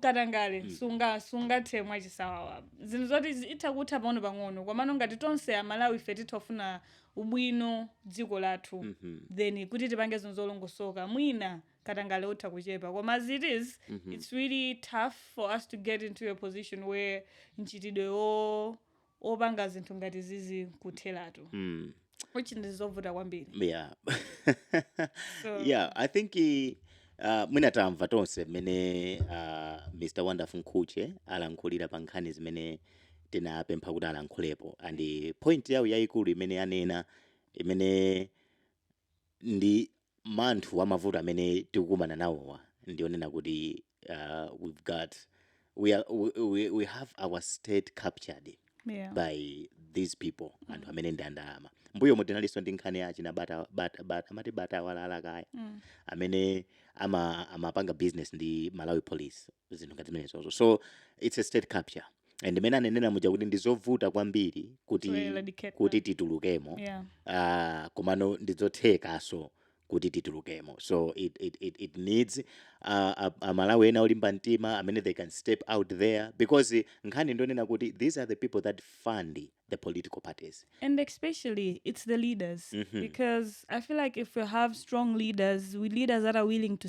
katangale sunga sungathe mwachisawawa zinthu zoti zi- zitha kutha pang'ono pang'ono komano ngati tonse amalawi ife titafuna ubwino wa dziko lathu then kuti tipange zinthu zolongosoka mwina katangale utha kuchepa koma as it is it's really tough for us to get into a position where mchitidwe wo opanga zinthu ngati zizi nkutheratu mm. which ndi zovuta kwambiri yeah so yeah i think eh, uh, mwina tamva tonse mmene uh, mr wonderful nkhuche alankhulira pa nkhani zimene tinapempha kuti alankhulepo and point yawo yayikulu imene anena imene ndi manthu wa mavuto amene tikukumana nawowa ndi onena kuti uh, we've got we, are, we, we, we have our state captured yeah. by these people mm. anthu amene ndi andalama mbuyomu tinalinso ndi nkhani ya achina bata, bata, bata, amati bata awalala kaya mm. amene amapanga ama business ndi malawi police zinthu ngati zimenezozo so it's a state capture and mmene anenera muja kuti ndizovuta kwambiri kuti kuti titulukemo yeah. uh, komano ndizothekaso kuti titulukemo so it, it, it, it needs uh, amalawi ena olimba mtima amene they can step out there because nkhani ndonena kuti these are the people that fund the political parties and especially it's the leaders mm -hmm. because i feel like if we have strong leaders we leaders that are willing to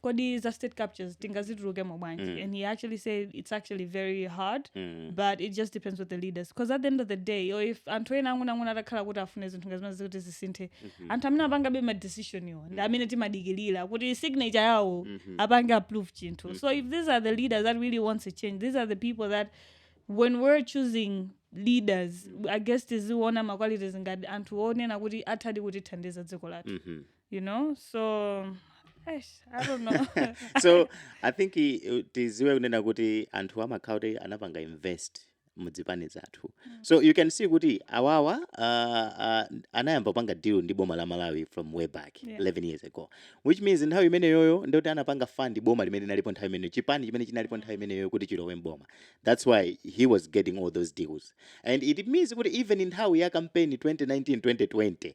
kodi za state captures tingazitulukemo bwanji mm. and he actually said it's actually very hard mm. but it just depends with the leaders because at the end of the day olo if anthu ena ang'onoang'ono atakhala kuti afuna zinthu nga zimenezi kuti zisinthe mm -hmm. anthu amene apangabe madecisionwo ndi mm. amene timadikilira kuti signature yawo mm -hmm. apange approve chinthu mm -hmm. so if these are the leaders that really wants a change these are the people that when we're choosing leaders mm -hmm. i guess tiziona maqualities ngati anthu onena kuti athadi kutithandiza dziko lathu mm -hmm. you know so eish, i don't know so i think i- uh, tiziwe kunena kuti anthu amakhala kuti anapanga invest muzipani zathu so you can see kuti awawa uh, uh, anayamba kupanga deal ndi boma la malawi from way back Yeah. 11 years ago which means nthawi imeneyoyo ndikuti anapanga fund boma limene linalipo nthawi imeneyo chipani chimene chinalipo nthawi imeneyoyo kuti chilowe mboma that's why he was getting all those deals and it means kuti even nthawi ya campaign 2019 2020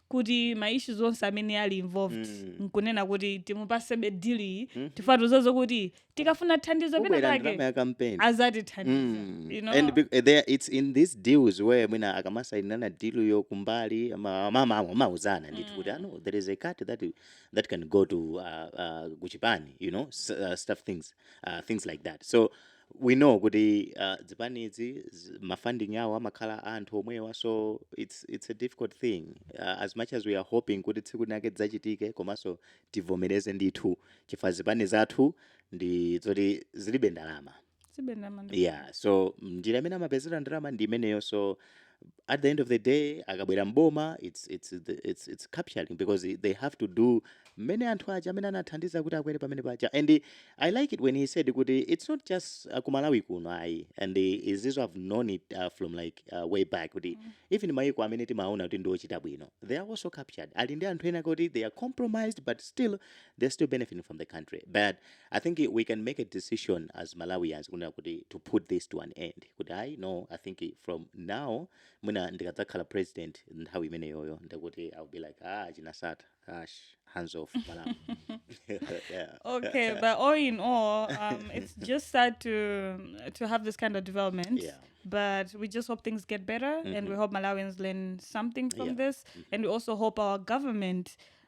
kuti ma issues onse amene ali involved Mm. nkunena kuti timupasebe deal iyi Mhm. chifukwa tuzozo kuti tikafuna thandizo pena pake azatithandiza Mm. you know? And there, it's in these deals where mwina akamasainirana deal yo kumbali ama- ama- ama- amauzana ndithu kuti no there is a cut that, you- that can go to uh, uh, kuchipani you know s- uh, stuff things uh, things like that so we know kuti uh, zipanizi ma funding awo amakhala anthu omwewa so it's, it's a difficult thing uh, as much as we are hoping kuti tsiku linake dzachitike komanso tivomereze ndithu chifukwa zipani zathu ndi zoti zilibe ndalama yeah so njira imene amapezera ndalama ndi imeneyo so at the end of the day akabwera mboma it's, it's, it's, it's capturing because they have to do mmene anthu aja amene anathandiza kuti akwere pamene paja and i like it when he said kuti it's not just uh, kumalawi kuno ayi and izizo I've known it uh, from like uh, way back kuti mm. even maiko amene timaona kuti ndiochita bwino they are also captured ali ndi anthu ena kuti they are compromised but still they're still benefiting from the country but I think we can make a decision as Malawians kunena kuti to put this to an end kuti ayi no I think from now mwina ndikadzakhala president nthawi imeneyoyo ndikuti I'll be like ah chinasata ash hands off Malawi yeah. okay but all in all um, it's just sad to to have this kind of development Yeah. but we just hope things get better and we hope malawians learn something from Yeah. this and we also hope our government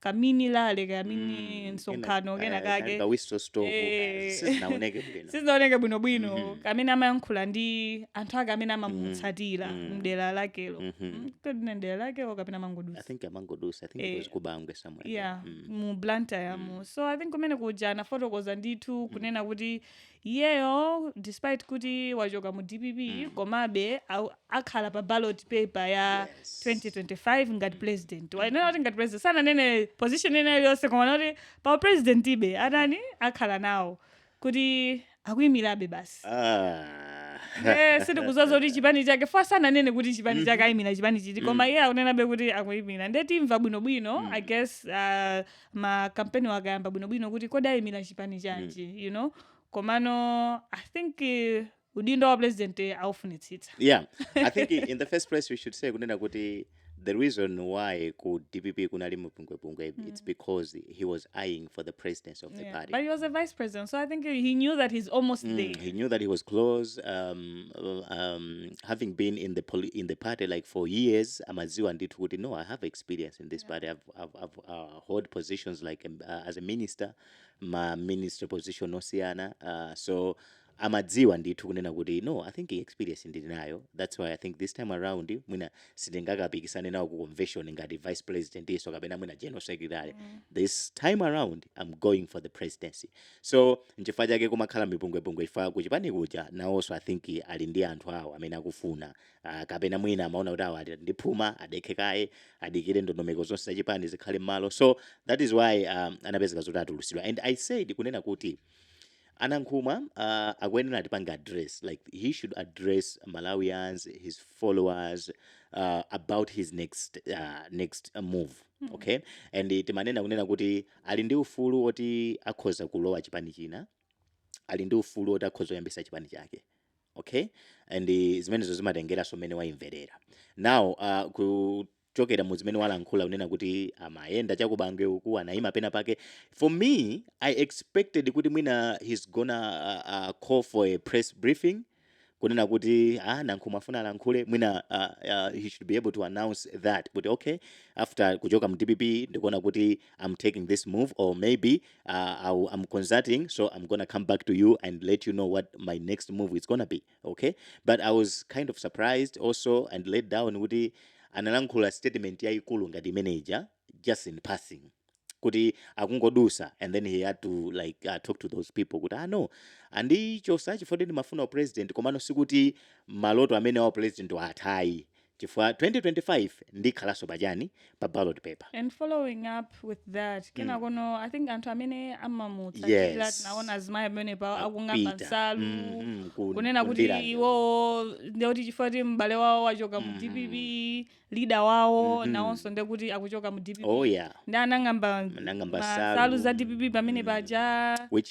kamini lale kamini Mm, msonkhano kena- kena eh, kake ka whistle stop, Eh. eh, sizinaoneke bwinobwino Mhm. kamene amayankhula ndi anthu ake amene amamutsatira mm. mdera lakelo Mhm. Mm, kapena mdera lakelo kapena amangodusa I think amangodusa. I think Eh, it was ku Bangwe somewhere. yeah Mm. mu blantyre mu so i think kumene kuja anafotokoza ndithu kunena kuti Iyeyo despite kuti wachoka mu dpp mm. komabe akhala pa ballot paper ya yes. 2025 ngati president wanena kuti ngati president sananene position ina iliyonse koma kuti pa president zivute zitani akhala nawo kuti akuyimirabe basi ah. eh, sitikuziwa zoti chipani chake chifukwa sananene kuti chipani chake mm-hmm. ayimira chipani chiti koma mm. iye akunenabe kuti akuyimira nde timva bwinobwino mm. i guess uh, ma kampeni wakayamba bwinobwino kuti kodi ayimira chipani chanji you know komano i think eh, udindo wa president eh, aufunitsitsa yeah i think i- in the first place we should say kunena kuti the reason why ku dpp kunali mupungwepungwe it's because he was eyeing for the presidency of the Yeah. party but he was a vice president so i think he knew that he's almost there Mm, he knew that he was close um, uh, um, having been in the poli- in the party like for years amaziwa ndithu kuti no i have experience in this party i've I've, I've uh, held positions like um, uh, as a minister ma minister position osiyana uh, so amadziwa ndithu kunena kuti no i think experience ndili nayo that's why i think this time around mwina sindingakapikisane nawo ku convention ngati vice president-nso kapena mwina general secretary mm. this time around i'm going for the presidency so nchifukwa chake kumakhala mipungwepungwe chifukwa kuchipani kuja nawonso i think ali ndi anthu awo amene akufuna Ah, kapena mwina amaona kuti awa ali ndi phuma adekhe kaye adikire ndondomeko zonse za chipani zikhale mmalo so that is why um, anapezeka zoti atulusidwa and i said kunena kuti a Nankhumwa uh, akuyenera atipange address like he should address malawians his followers uh, about his next, uh, next uh, move okay and eh, timanena kunena kuti ali ndi ufulu woti akhoza kulowa chipani china ali ndi ufulu woti akhoza kuyambisa chipani chake okay and zimenezo zimatengeranso mmene wayimverera now uh, kuchokera mu zimene walankhula kunena kuti amayenda chakubangwe uku anayima pena pake for me i expected kuti mwina he's gonna uh, uh, call for a press briefing kunena kuti ah, Nankhumwa afuna alankhule mwina uh, uh, he should be able to announce that kuti okay after kuchoka mu dpp ndikuona kuti am taking this move or maybe uh, I'll, I'm consulting, so I'm gonna come back to you and let you know what my next move is gonna be. Okay, but I was kind of surprised also and let down kuti analankhula statement yaikulu ngati imeneja just in passing kuti akungodusa and then he had to like uh, talk to those people kuti ah no andichosa chifukwa ndimafuna upresident komano sikuti maloto amene wa president wa athayi chifukwa 2025 ndikhalanso pachani pa ballot paper and following up with that kenakono mm. i think anthu amene amamutsatira yes. tinaona azimayi pamenepa akung'amba nsalu mm, mm, ku, kunena kuti iwowo ndekuti chifukwa kuti m'bale wawo wachoka mu dpp mm-hmm. leader wawo mm -hmm. nawonso ndekuti akuchoka mu dpp oh, yeah. nde anang'amba nsalu za dpp pamene mm. paja which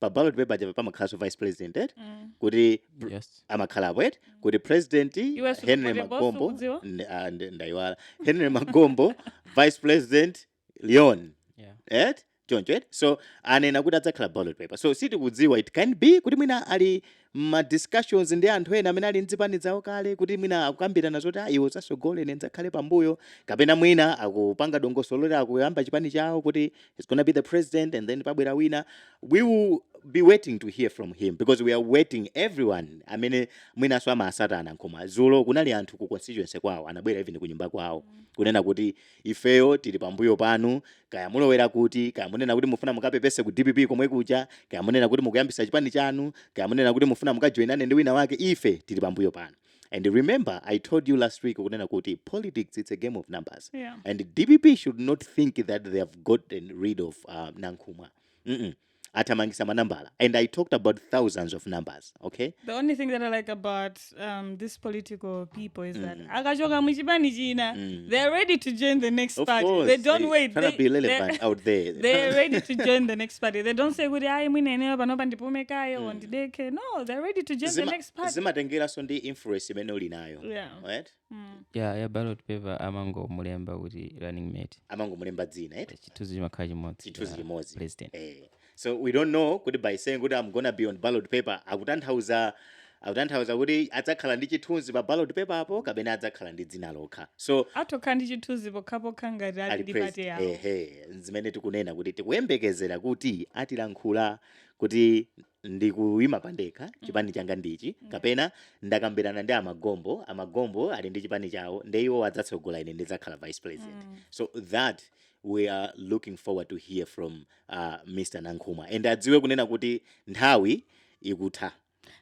pa ballot paper aja pamakhalanso vice president eti Mm. kuti pr- yes amakhalapo eti kuti president Iwe si henry ulipo, magombo sukudziwa? ndi- ah, ndi- ndayiwala henry magombo vice president leon yeah et choncho et so anena kuti adzakhala ballot paper so sitikudziwa it can be kuti mwina ali mma discussions ndi anthu ena amene ali m'zipani zawo kale kuti mwina akukambirana zoti a iwe udzatsogole ine ndidzakhale pambuyo kapena mwina akupanga dongosolo loti akuyamba chipani chawo kuti he's gonna be the president and then pabwera wina we will be waiting to hear from him because we are waiting everyone amene mwinanso amatsata Nankhumwa zulo kunali anthu ku constituency kwawo anabwera even kunyumba kwawo kunena kuti Ifeyo tili pambuyo panu, kaya mulowera kuti, kaya munena kuti mufuna mukapepese ku dpp komwe kuja, kaya munena kuti mukuyambitsa chipani chanu, kaya munena kuti mufuna mukajoinane ndi wina wake, ife tili pambuyo panu. And remember I told you last week kunena kuti politics it's a game of numbers Yeah. and dpp should not think that they have gotten rid of uh, Nankhumwa. Mm -mm. athamangisa manambala and i talked about thousands of numbers okay the only thing that i like about um, this political people is that mm. akachoka muchipani china mm. they're ready to join the next of party course, they don't they, wait they, be relevant out there they're ready to join the next party they don't say kuti ayi mwina ineyo panopa ndipume kaye mm. ondideke no they're ready to join Zima, the next party zimatengeranso ndi influence imene uli nayo yeah. right Mm. ya ya ballot paper amangomulemba kuti running mate amangomulemba dzina eti chithunzi chimakhala chimodzi chithunzi cha chimodzi president eh. so we don't know kuti by saying kuti i'm gonna be on ballot paper akutanthauza akutanthauza kuti adzakhala ndi chithunzi pa ballot paper apo kapena adzakhala ndi dzina lokha so atokhala ndi chithunzi pokhapokha ngati ali ali ndi party president yawo ehe zimene tikunena kuti tikuyembekezera kuti atilankhula kuti ndikuyima pandekha chipani changa ndichi kapena ndakambirana ndi amagombo amagombo ali ndi chipani chawo nde iwo adzatsogola ine ndidzakhala vice president so that we are looking forward to hear from uh, mr nankhumwa and adziwe kunena kuti nthawi ikutha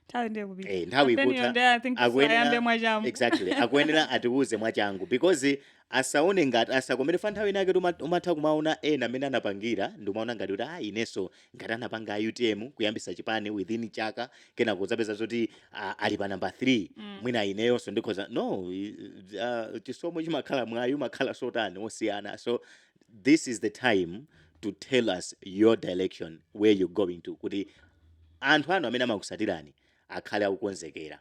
nthawi nde ikupita eh, nthawi Then ikutha you there, I think akuyenera- ayambe mwachangu. exactly akuyenera atiwuze mwachangu because asaone ngati asakomere fa nthawi inake tuma- umatha kumaona ena amene anapangira ndikumaona ngati kuti ah inenso ngati anapanga a utm kuyambitsa chipani within chaka kenako udzapeza zoti ah, ali pa namba 3 Mm. mwina ineyonso ndikhoza no i- ah, chisomo chimakhala mwayi umakhala wotani wosiyana so this is the time to tell us your direction where you going to kuti anthu anu amene amakutsatirani akhale akukonzekera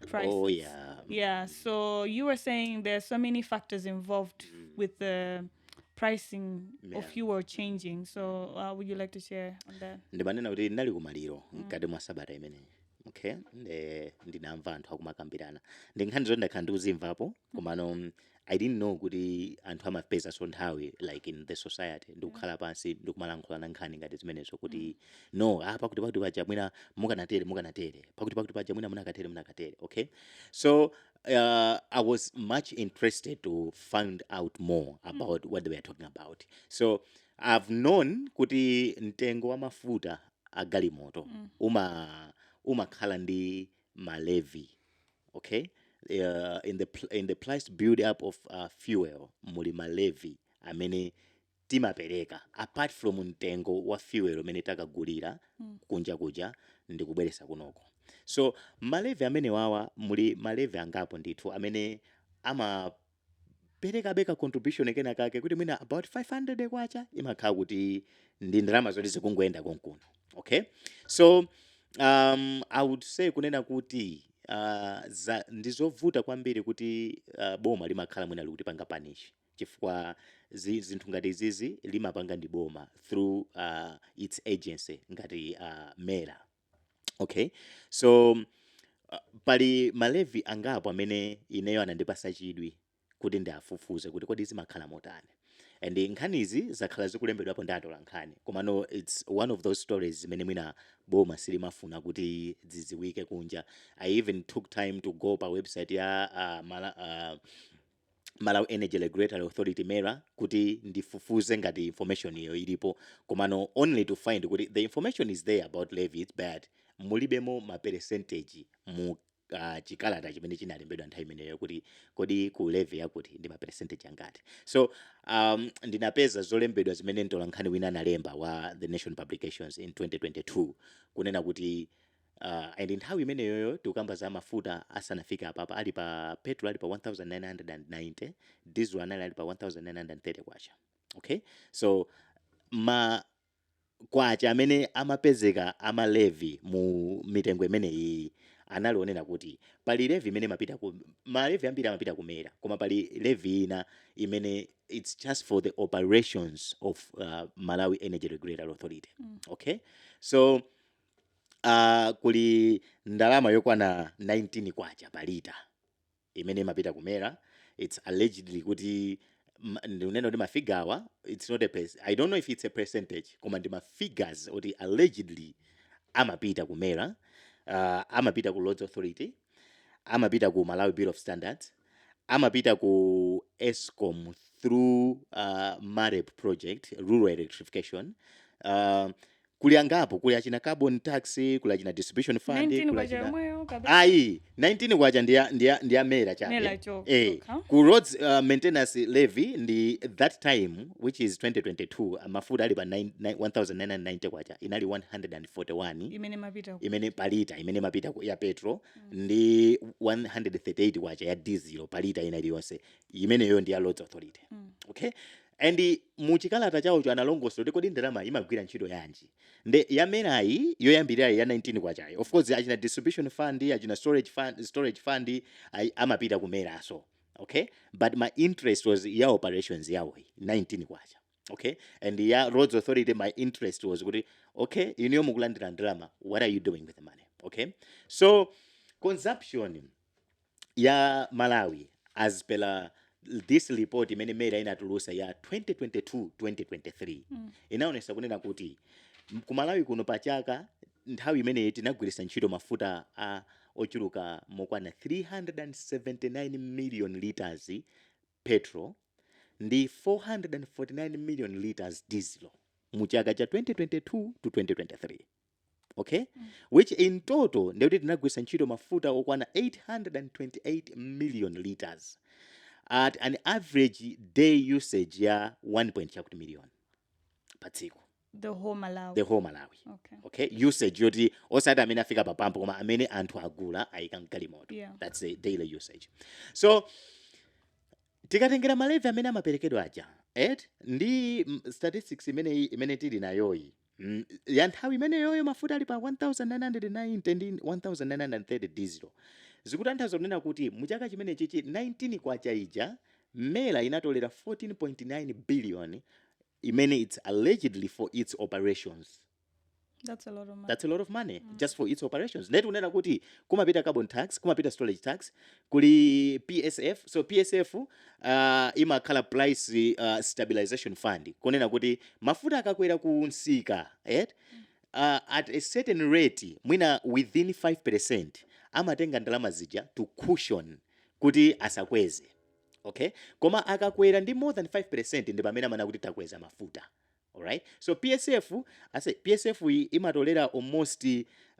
prices. Oh yeah. Yeah. So you were saying there are so many factors involved with the pricing Yeah. of fuel changing. So uh, would you like to share on that? ndimanena kuti ndinali kumaliro mkati mwa sabata imeneyi okay nde ndinamva anthu akumakambirana ndi nkhani zoti ndakhala ndikuzimvapo komano mm, i didn't know kuti anthu amapeza nso nthawi like in the society ndikukhala pansi ndikumalankhulana nkhani ngati zimenezo kuti no ah, pakuti pakuti paja mwina mukanatere mukanatere pakuti pakuti paja mwina munakatere munakatere okay so uh, I was much interested to find out more about what they were talking about. So I've known kuti mtengo wa mafuta a galimoto uma umakhala ndi ma levy okay uh, in the pl- in the price build up of uh, fuel muli ma levy amene timapereka apart from mtengo wa fuel umene takagulira Mm. kunja kuja ndi kubweresa kunoko so ma levy amene wawa muli ma levy angapo ndithu amene ama perekabe ka contribution kena kake kuti mwina about 500 kwacha imakhala kuti ndi ndalama zoti zikungoyenda konkuno okay so um, i would say kunena kuti uh, za, ndi zovuta kwambiri kuti uh, boma limakhala mwina likutipanga punish chifukwa zi- zinthu ngati izizi limapanga ndi boma through uh, its agency ngati uh, mera Okay, so uh, pali ma levy angapo amene ineyo anandipasa chidwi kuti ndiafufuze kuti kodi zimakhala motani and nkhanizi zakhala zikulembedwapo ndi atola nkhani komano its one of those stories zimene mwina boma silimafuna kuti zidziwike kunja i even took time to go pa website ya uh, mala, uh, Malawi Energy Regulatory Authority, MERA, kuti ndifufuze ngati information yo ilipo komano only to find kuti the information is there about levies but mulibemo ma percentage mu ah, chikalata chimene chinalembedwa nthawi imeneyo kuti kodi ku levy yakuti ndi ma percentage angati. So um, ndinapeza zolembedwa zimene mtolankhani wina analemba wa The Nation Publications in 2022 kunena kuti Uh, and nthawi imeneyoyo tikukamba za mafuta asanafike apapa ali pa petrol ali pa 1990 diesel anali ali pa 1930 kwacha okay so ma kwacha amene amapezeka a ma levy mu mitengo imeneyi anali onena kuti pali levy imene imapita ku ma levy ambiri amapita ku MERA koma pali levy ina imene it's just for the operations of uh, Malawi Energy Regulatory Authority mm. okay so Uh, kuli ndalama yokwana 19 kwacha pa lita imene imapita ku MERA it's allegedly kuti ndinena kuti mafigawa it's not a pers i don't know if it's a percentage koma ndi mafigures oti allegedly amapita ku MERA uh, amapita ku Roads Authority amapita ku Malawi Bureau of Standards amapita ku escom through uh, marep project rural electrification uh, kuli angapo kuli achina carbon tax kuli achina distribution fund ayi 19 kwacha ndi ndi ndi ya MERA cha eh ku roads uh, maintenance levy ndi that time which is 2022 mafuta ali pa 1990 kwacha inali 141 imene mapita imene palita imene mapita ya petrol ndi 138 kwacha ya diesel pa lita ina iliyonse imeneyo ndi ya Roads Authority mm. okay and muchikalata chawocho analongosolaso kuti kodi ndalama imagwira ntchito yanji nde ya MERAyi yoyambirirayi ya 19 kwachayi of course achina distribution fund achina storage fund, storage fund amapita ku MERAso okay but my interest was ya operations yawoyi 19 kwacha okay and ya roads authority my interest was kuti okay inuyo mukulandira ndalama what are you doing with the money okay so consumption ya malawi as per this report imene mera inatulusa ya 2022 2023 mm. inaonesa kunena kuti m- ku malawi kuno pa chaka nthawi imeneyi tinagwiritsa ntchito mafuta a ochuluka mokwana 379 million liters petrol ndi 449 million litres dizilo mu chaka cha 2022 to 2023 okay mm. which in total ndikuti tinagwiritsa ntchito mafuta okwana 828 million litres at an average day usage ya 1 point chakuti million pa tsiku the whole malawi the whole malawi okay okay usage yoti osati amene afika pa pampu koma amene anthu agula ayika mgalimoto Yeah. that's the daily usage so tikatengera malevi amene amaperekedwa aja eti ndi mm, statistics imene imene tili nayoyi mm, ya nthawi imeneyoyo mafuta ali pa 1990 ndi 1930 diesel zikutanthauza kunena kuti muchaka chimenechichi 19 kwacha ija mera inatolera 14.9 billion imene its allegedly for its operations That's a lot of money. That's a lot of money mm. just for its operations. Nde tikunena kuti kumapita carbon tax, kumapita storage tax, kuli PSF. So PSF uh, imakhala price uh, stabilization fund. Kunena kuti mafuta akakwera kumsika, eh? Uh, at a certain rate, mwina within 5% amatenga ndalama zija to cushion kuti asakweze. ok koma akakwera ndi more than 5 percent ndi pamene amanena kuti takweza mafuta alright so psf ase psf imatolera almost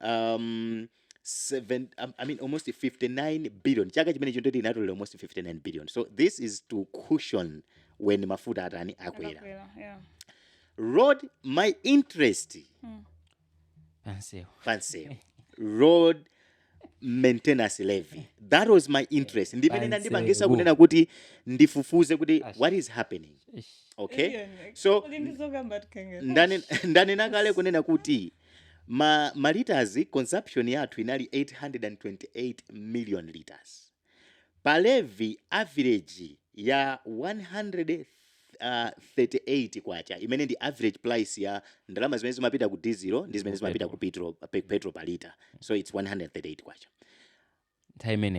um, 7 um, i mean almost 59 billion chaka chimenecho ndoti inatolera almost 59 billion so this is to cushion when mafuta atani akwera yeah. road my interest mm. pansewu pansewu road maintenance levy that was my interest ndimene inandipangisa kunena kuti ndifufuze kuti what is happening okay so ndane- ndanena kale kunena kuti ma, ma liters consumption yathu inali 828 million liters Pa levy, average ya K138 imene ndi average price ya ndalama zimene zimapita ku dizilo ndi zimene zimapita ku petrol pa lita. So it's K138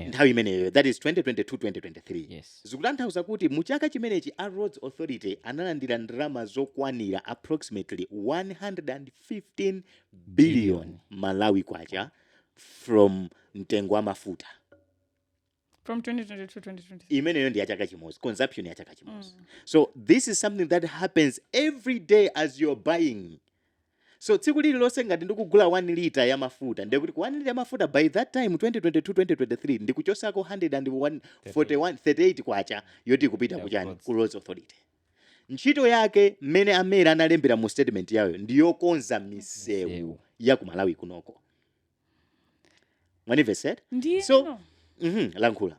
nthawi imeneyo that is 2022 2023 yes. zikutanthauza kuti mu chaka chimenechi a roads authority analandira ndalama zokwanira approximately 115 billion malawi kwacha from mtengo wa mafuta from 2022 2023 imeneyo ndi ya chaka chimodzi consumption ya chaka chimodzi so this is something that happens every day as you're buying so tsiku lililonse ngati ndikugula 1 lita ya mafuta ndiye kuti ku 1 lita ya mafuta by that time 2022 2023 ndikuchosako 1 138 kwacha yoti ikupita kuchani ku roads authority Ntchito yake mmene a MERA analembera mu statement yayo ndi yokonza misewu ya ku Malawi kunoko. Mwanimvetsera? Ndiye So- no. Mhm, lankhula.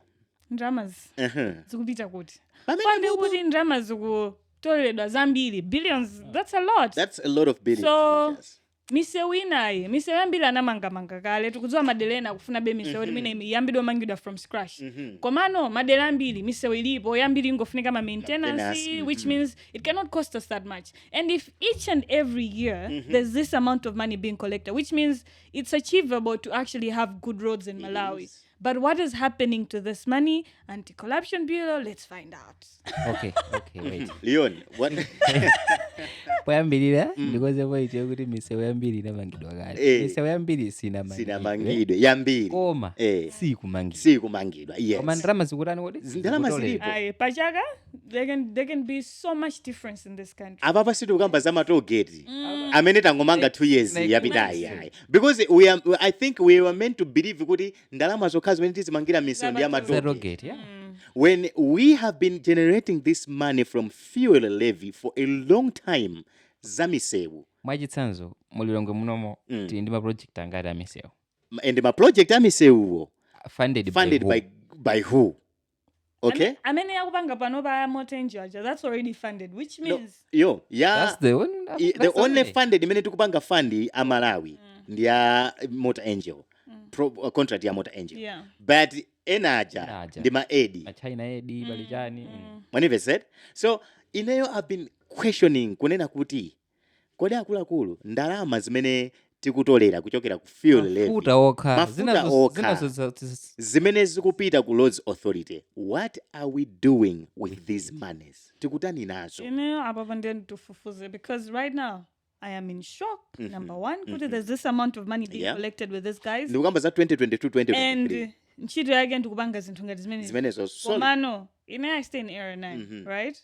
Ndalamazi Mhm. zikupita kuti? Pande kuti ndalama zikutoleredwa zambiri billions that's a lot. That's a lot of billions. So- Yes. misewu inayi misewu yambiri anamangamanga kale tikudziwa madera ena akufunabe misewu kuti mwina iyambidwe kumangidwa from scratch komano madera ambiri misewu ilipo yambiri ingofunika ma maintenance which means it cannot cost us that much and if each and every year there's this amount of money being collected which means it's achievable to actually have good roads in malawi But what is happening to this money? Anti Corruption Bureau, let's find out. okay okay wait leon what poyambirira ndikozepo poti yokuti misewu yambiri inamangidwa kale Eh. misewu yambiri sinamangidwe sinamangidwe yambiri koma Eh. sikumangidwa sikumangidwa koma yes ndalama zikutani kodi Ndalama zilipo. Pachaka? There can be so much difference in this country. apapa sitikukamba za matogeti Mm. amene tangomanga 2 years yapitayi because we are, i think we were meant to believe kuti ndalama zokha zimene tizimangira misewu ndi ya matogeti yeah. Mm. when we have been generating this money from fuel levy for a long time za misewu mwachitsanzo mulilongwe munomo Mm. tili ndi maproject angati amisewu and ma project a misewuwo funded, funded by, by, by who okay Ame- amene akupanga pano pa Motor Angel that's already funded which No, means That's the one. i- the that's only only. funded imene tikupanga fund a Malawi Mm. ndi ya Motor Angel Mm. Pro, uh, contract ya Motor Angel yeah but ena aja Ena aja. ndi ma aid Machina aid pali chani. mm. mwanimvetsera so ineyo i've been questioning kunena kuti Kodi akuluakulu ndalama zimene tikutolera kuchokera ku fuel levy, mafuta okha zina mafuta zos- okha zina zos- zis- zimene zikupita ku roads authority what are we doing with these monies tikutani nazo Ineyo apapa ndiye ndifufuze because right now I am in shock. Number one, kuti there's this amount of money being Yeah. collected with these guys, ndikukamba za 2022 2023 and ntchito yake ndikupanga zinthu ngati zimenezi. zimenezo so komano ine i stay in area 9 right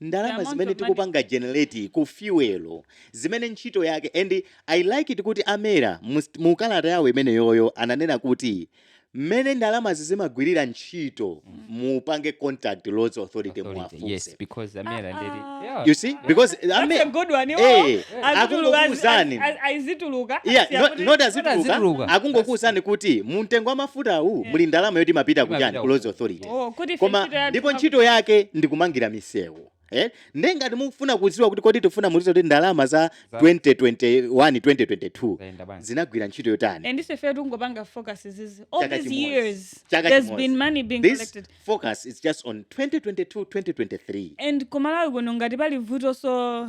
ndalama zimene tikupanga generate ku fuel zimene ntchito yake and i like it kuti a MERA mu kalata yawo imeneyoyo ananena kuti mmene ndalamazi zimagwirira ntchito mupange contact roads authority Authority, yes, muwafunse because a MERA and the- Ah. Yeah. you see because That's a ame good one. Iwo Eh, azituluka- akungokuwuzani. az- az- azituluka, Yeah, asiya no- kuti- not azituluka. azituluka akungokuwuzani kuti mu mtengo wa mafuta uwu muli ndalama yoti imapita Imapita kuchani ku ku- roads authority Oh, kuti ife koma ntchito yathu ndipo ntchito yake ndi kumangira misewu Eh? nde ngati mufuna kudziwa kuti kodi tifuna mutiuze kuti ndalama za Za- 2021 2022 Zayenda bwanji? zinagwira ntchito yotani and ife fe tikungopanga focus izizi all Chaka these chimodzi. years Chaka there's chimodzi. been money being this collected focus is just on 2022 2023 and kuMalawi kuno ngati pali vuto so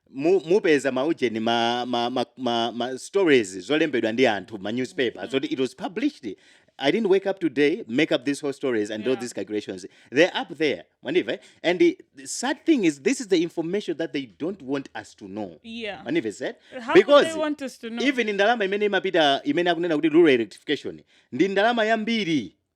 mu mupeza ma ujeni ma ma ma ma, ma stories zolembedwa ndi anthu ma newspaper mm. zoti it was published I didn't wake up today, make up these whole stories and yeah. do these calculations. They're up there. Maniva. And the, the, sad thing is, this is the information that they don't want us to know. Yeah. Maniva said. How because they want us to know? Even in Dalama, imene imapita, imene akunena kuti rural electrification. Ndi Dalama yambiri.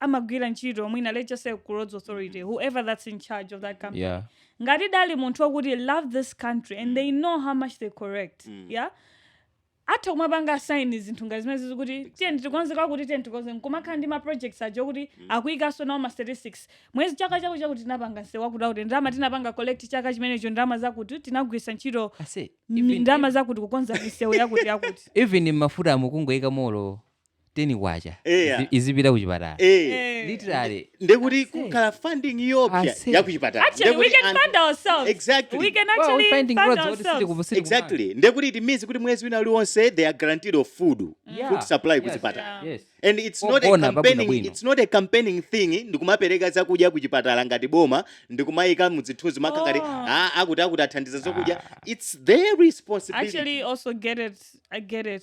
amagwira ntchito mwina let's just say ku roads authority whoever that's in charge of that company yeah ngati ali munthu wakuti love this country and they know how much they collect yeah atha kumapanga assign zinthu ngati zimenezizi kuti tiyeni tikonze kwakuti tiyeni tikonze nkumakhala ndi ma projects aja okuti akuyikanso nawo ma statistics mwezi chaka chakuti chakuti tinapanga nsewu wakuti wakuti ndalama tinapanga collect chaka chimenecho ndalama zakuti tinagwiritsa ntchito I say, even- ndalama zakuti kukonza misewu yakuti yakuti even mafuta amu kungoyika molo teni kwacha Eya. izi- izipita kuchipatala Eh. Eh. literally ndekuti That's it. kukhala funding yopita Ase. yakuchipatala Actually, we can fund ourselves. Exactly. We can Well, actually we're finding fund roads what is it ourselves. kuvusi exactly ndekuti it means kuti mwezi wina uliwonse they are guaranteed of food Yeah. food supply Yes. kuchipatala yes and it's not a Ogona pabwino campaigning bwino. it's not a campaigning thing ndikumapereka zakudya kuchipatala ngati boma ndikumayika muzithunzi makhala ngati Oh. "Ah, akuti akuti athandiza zokudya it's their responsibility Actually, also get it. I get it.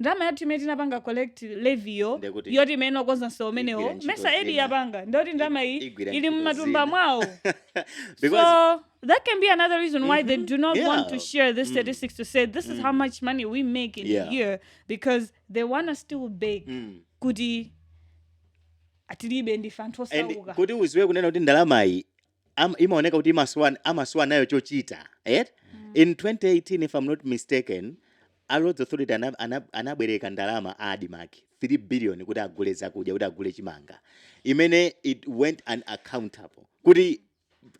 ndalama yathu imene tinapanga collect levy yo Ndiye kuti yoti imene okonza msewu Igwira umenewo ntchito mesa aid zina. yapanga ndiyoti ndalama iyi igwira ili ntchito mumatumba zina. mwawo Because- so that can be another reason why they do not want to Yeah. share this statistics to say this is how much money we make in Yeah. a year because they wanna still beg Mm. kuti ah tilibe ndife anthu And osauka kuti uziwe kunena kuti ndalamayi am- imaoneka kuti imasowa amasowa nayo chochita right? in 2018 if i'm not mistaken a roads authority ana- ana- anabwereka ndalama a admarc 3 billion kuti agule zakudya kuti agule chimanga imene it went unaccountable kuti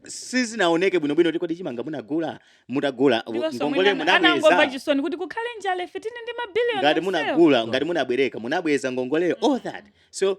sizinaoneke bwinobwino kuti kodi chimanga munagula mutagula ndiponso ngongole mwina anangomva munabweza chisoni kuti kukhale njala ife tili ndi mabiliyoni ngati onsewo. munagula ngati munabwereka munabweza ngongoleyo all that so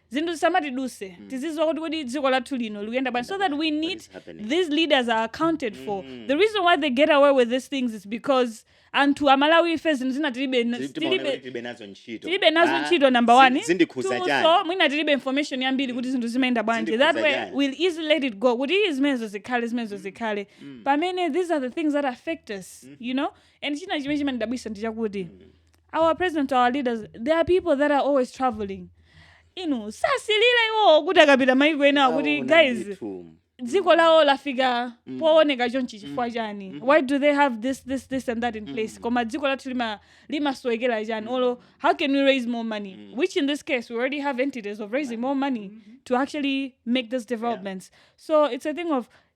zinthu zisamatiduse tiziziwa kuti kodi dziko lathu lino likuyenda bwanji so that we need is happening? these leaders are accounted for the reason why they get away with these things is because anthu amalawi ife zinthu zina tilibe Tili- timaona tilibe kuti tilibe nazo ntchito tilibe nazo Ah, ntchito number zin- one zindikhuza Two, chani so mwina tilibe information yambiri kuti zinthu zimayenda bwanji that Zindikhuza way chani. we'll easily let it go kuti iyi zimenezo zikhale zimenezo zikhale pamene these are the things that affect us you know and china chimene chimandidabwisa ndi chakuti our president our leaders they are people that are always traveling inu sasilira iwowo kuti akapita maiko enawa kuti Aona guys ndithu. dziko lawo lafika Mm. pooneka chonchi chifukwa Mm. chani Mhm. why do they have this this this and that in place Mm. koma dziko lathu lima- limasowekera chani Mm. olo how can we raise more money Mm. which in this case we already have entities of raising more money to actually make these developments so it's a thing of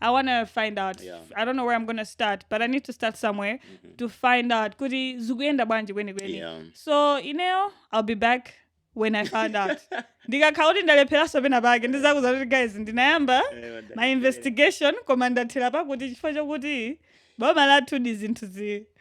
I want to find out. Yeah. I don't know where I'm going to start, but I need to start somewhere mm-hmm. to find out. Kuti zikuyenda bwanji kweni kweni. Yeah. So, you know, I'll be back when I found out. ndikakhala kuti ndalepheranso pena pake ndizakuuza kuti guys ndinayamba eh, my investigation koma ndathera pakuti chifukwa chokuti boma lathu ndi zinthu zi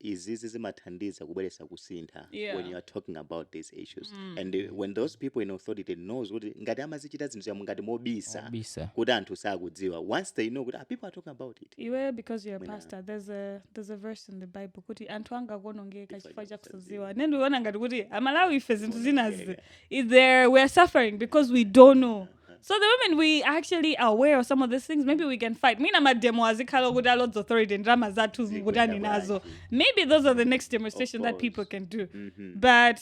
izizi zimathandiza kubweretsa kusintha Yeah. when you are talking about these issues Mm. and uh, when those people in authority knows kuti ngati amazichita zinthu zamu ngati mobisa Mobisa. kuti anthu sakudziwa once they know kuti ah, people are talking about it iwe because you're a Mwina- pastor there's a, there's a verse in the bible kuti anthu anga akuonongeka chifukwa cha kusadziwa ne ndiona ngati kuti amalawi ife zinthu zinazi there we are suffering because we don't know so the moment we are actually aware of some of these things maybe we can fight mwina mademo azikhala okuti a roads authority ndalama zathu mukutani nazo maybe those are the next demonstration that people can do but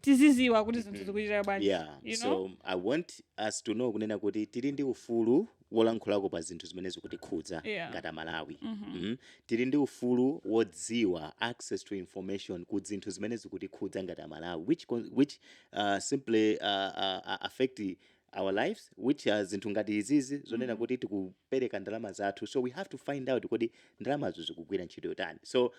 tiziziwa kuti zinthu zikuchitika bwanji yeah you know so i want us to know kunena kuti tili ndi ufulu wolankhulako pa zinthu zimene zikutikhudza yeah. ngati amalawi mm -hmm. mm -hmm. tili ndi ufulu wodziwa access to information ku zinthu zimene zikutikhudza ngati amalawi which, which uh, simply uh, uh, affect our lives which are zinthu ngati izizi zonena mm-hmm. kuti tikupereka ndalama zathu so we have to find out kodi ndalamazo zikugwira ntchito yotani so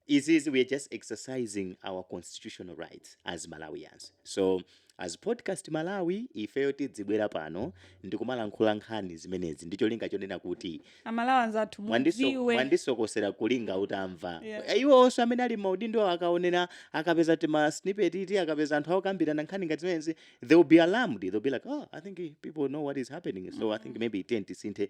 izizi we're just exercising our constitutional rights as malawians so as podcast malawi ifeyo tidzibwera pano ndikumalankhula nkhani zimenezi ndicholinga chonena kuti amalawi anzathu mwandiso- mudziwe mwandisokosera kulinga utamva Yeah. iwo onse amene ali m'maudindo akaonera akapeza tima snippet ti akapeza anthu akukambirana nkhani ngati zimenezi they will be alarmed they'll be like oh i think people know what is happening so i think maybe tiyeni tisinthe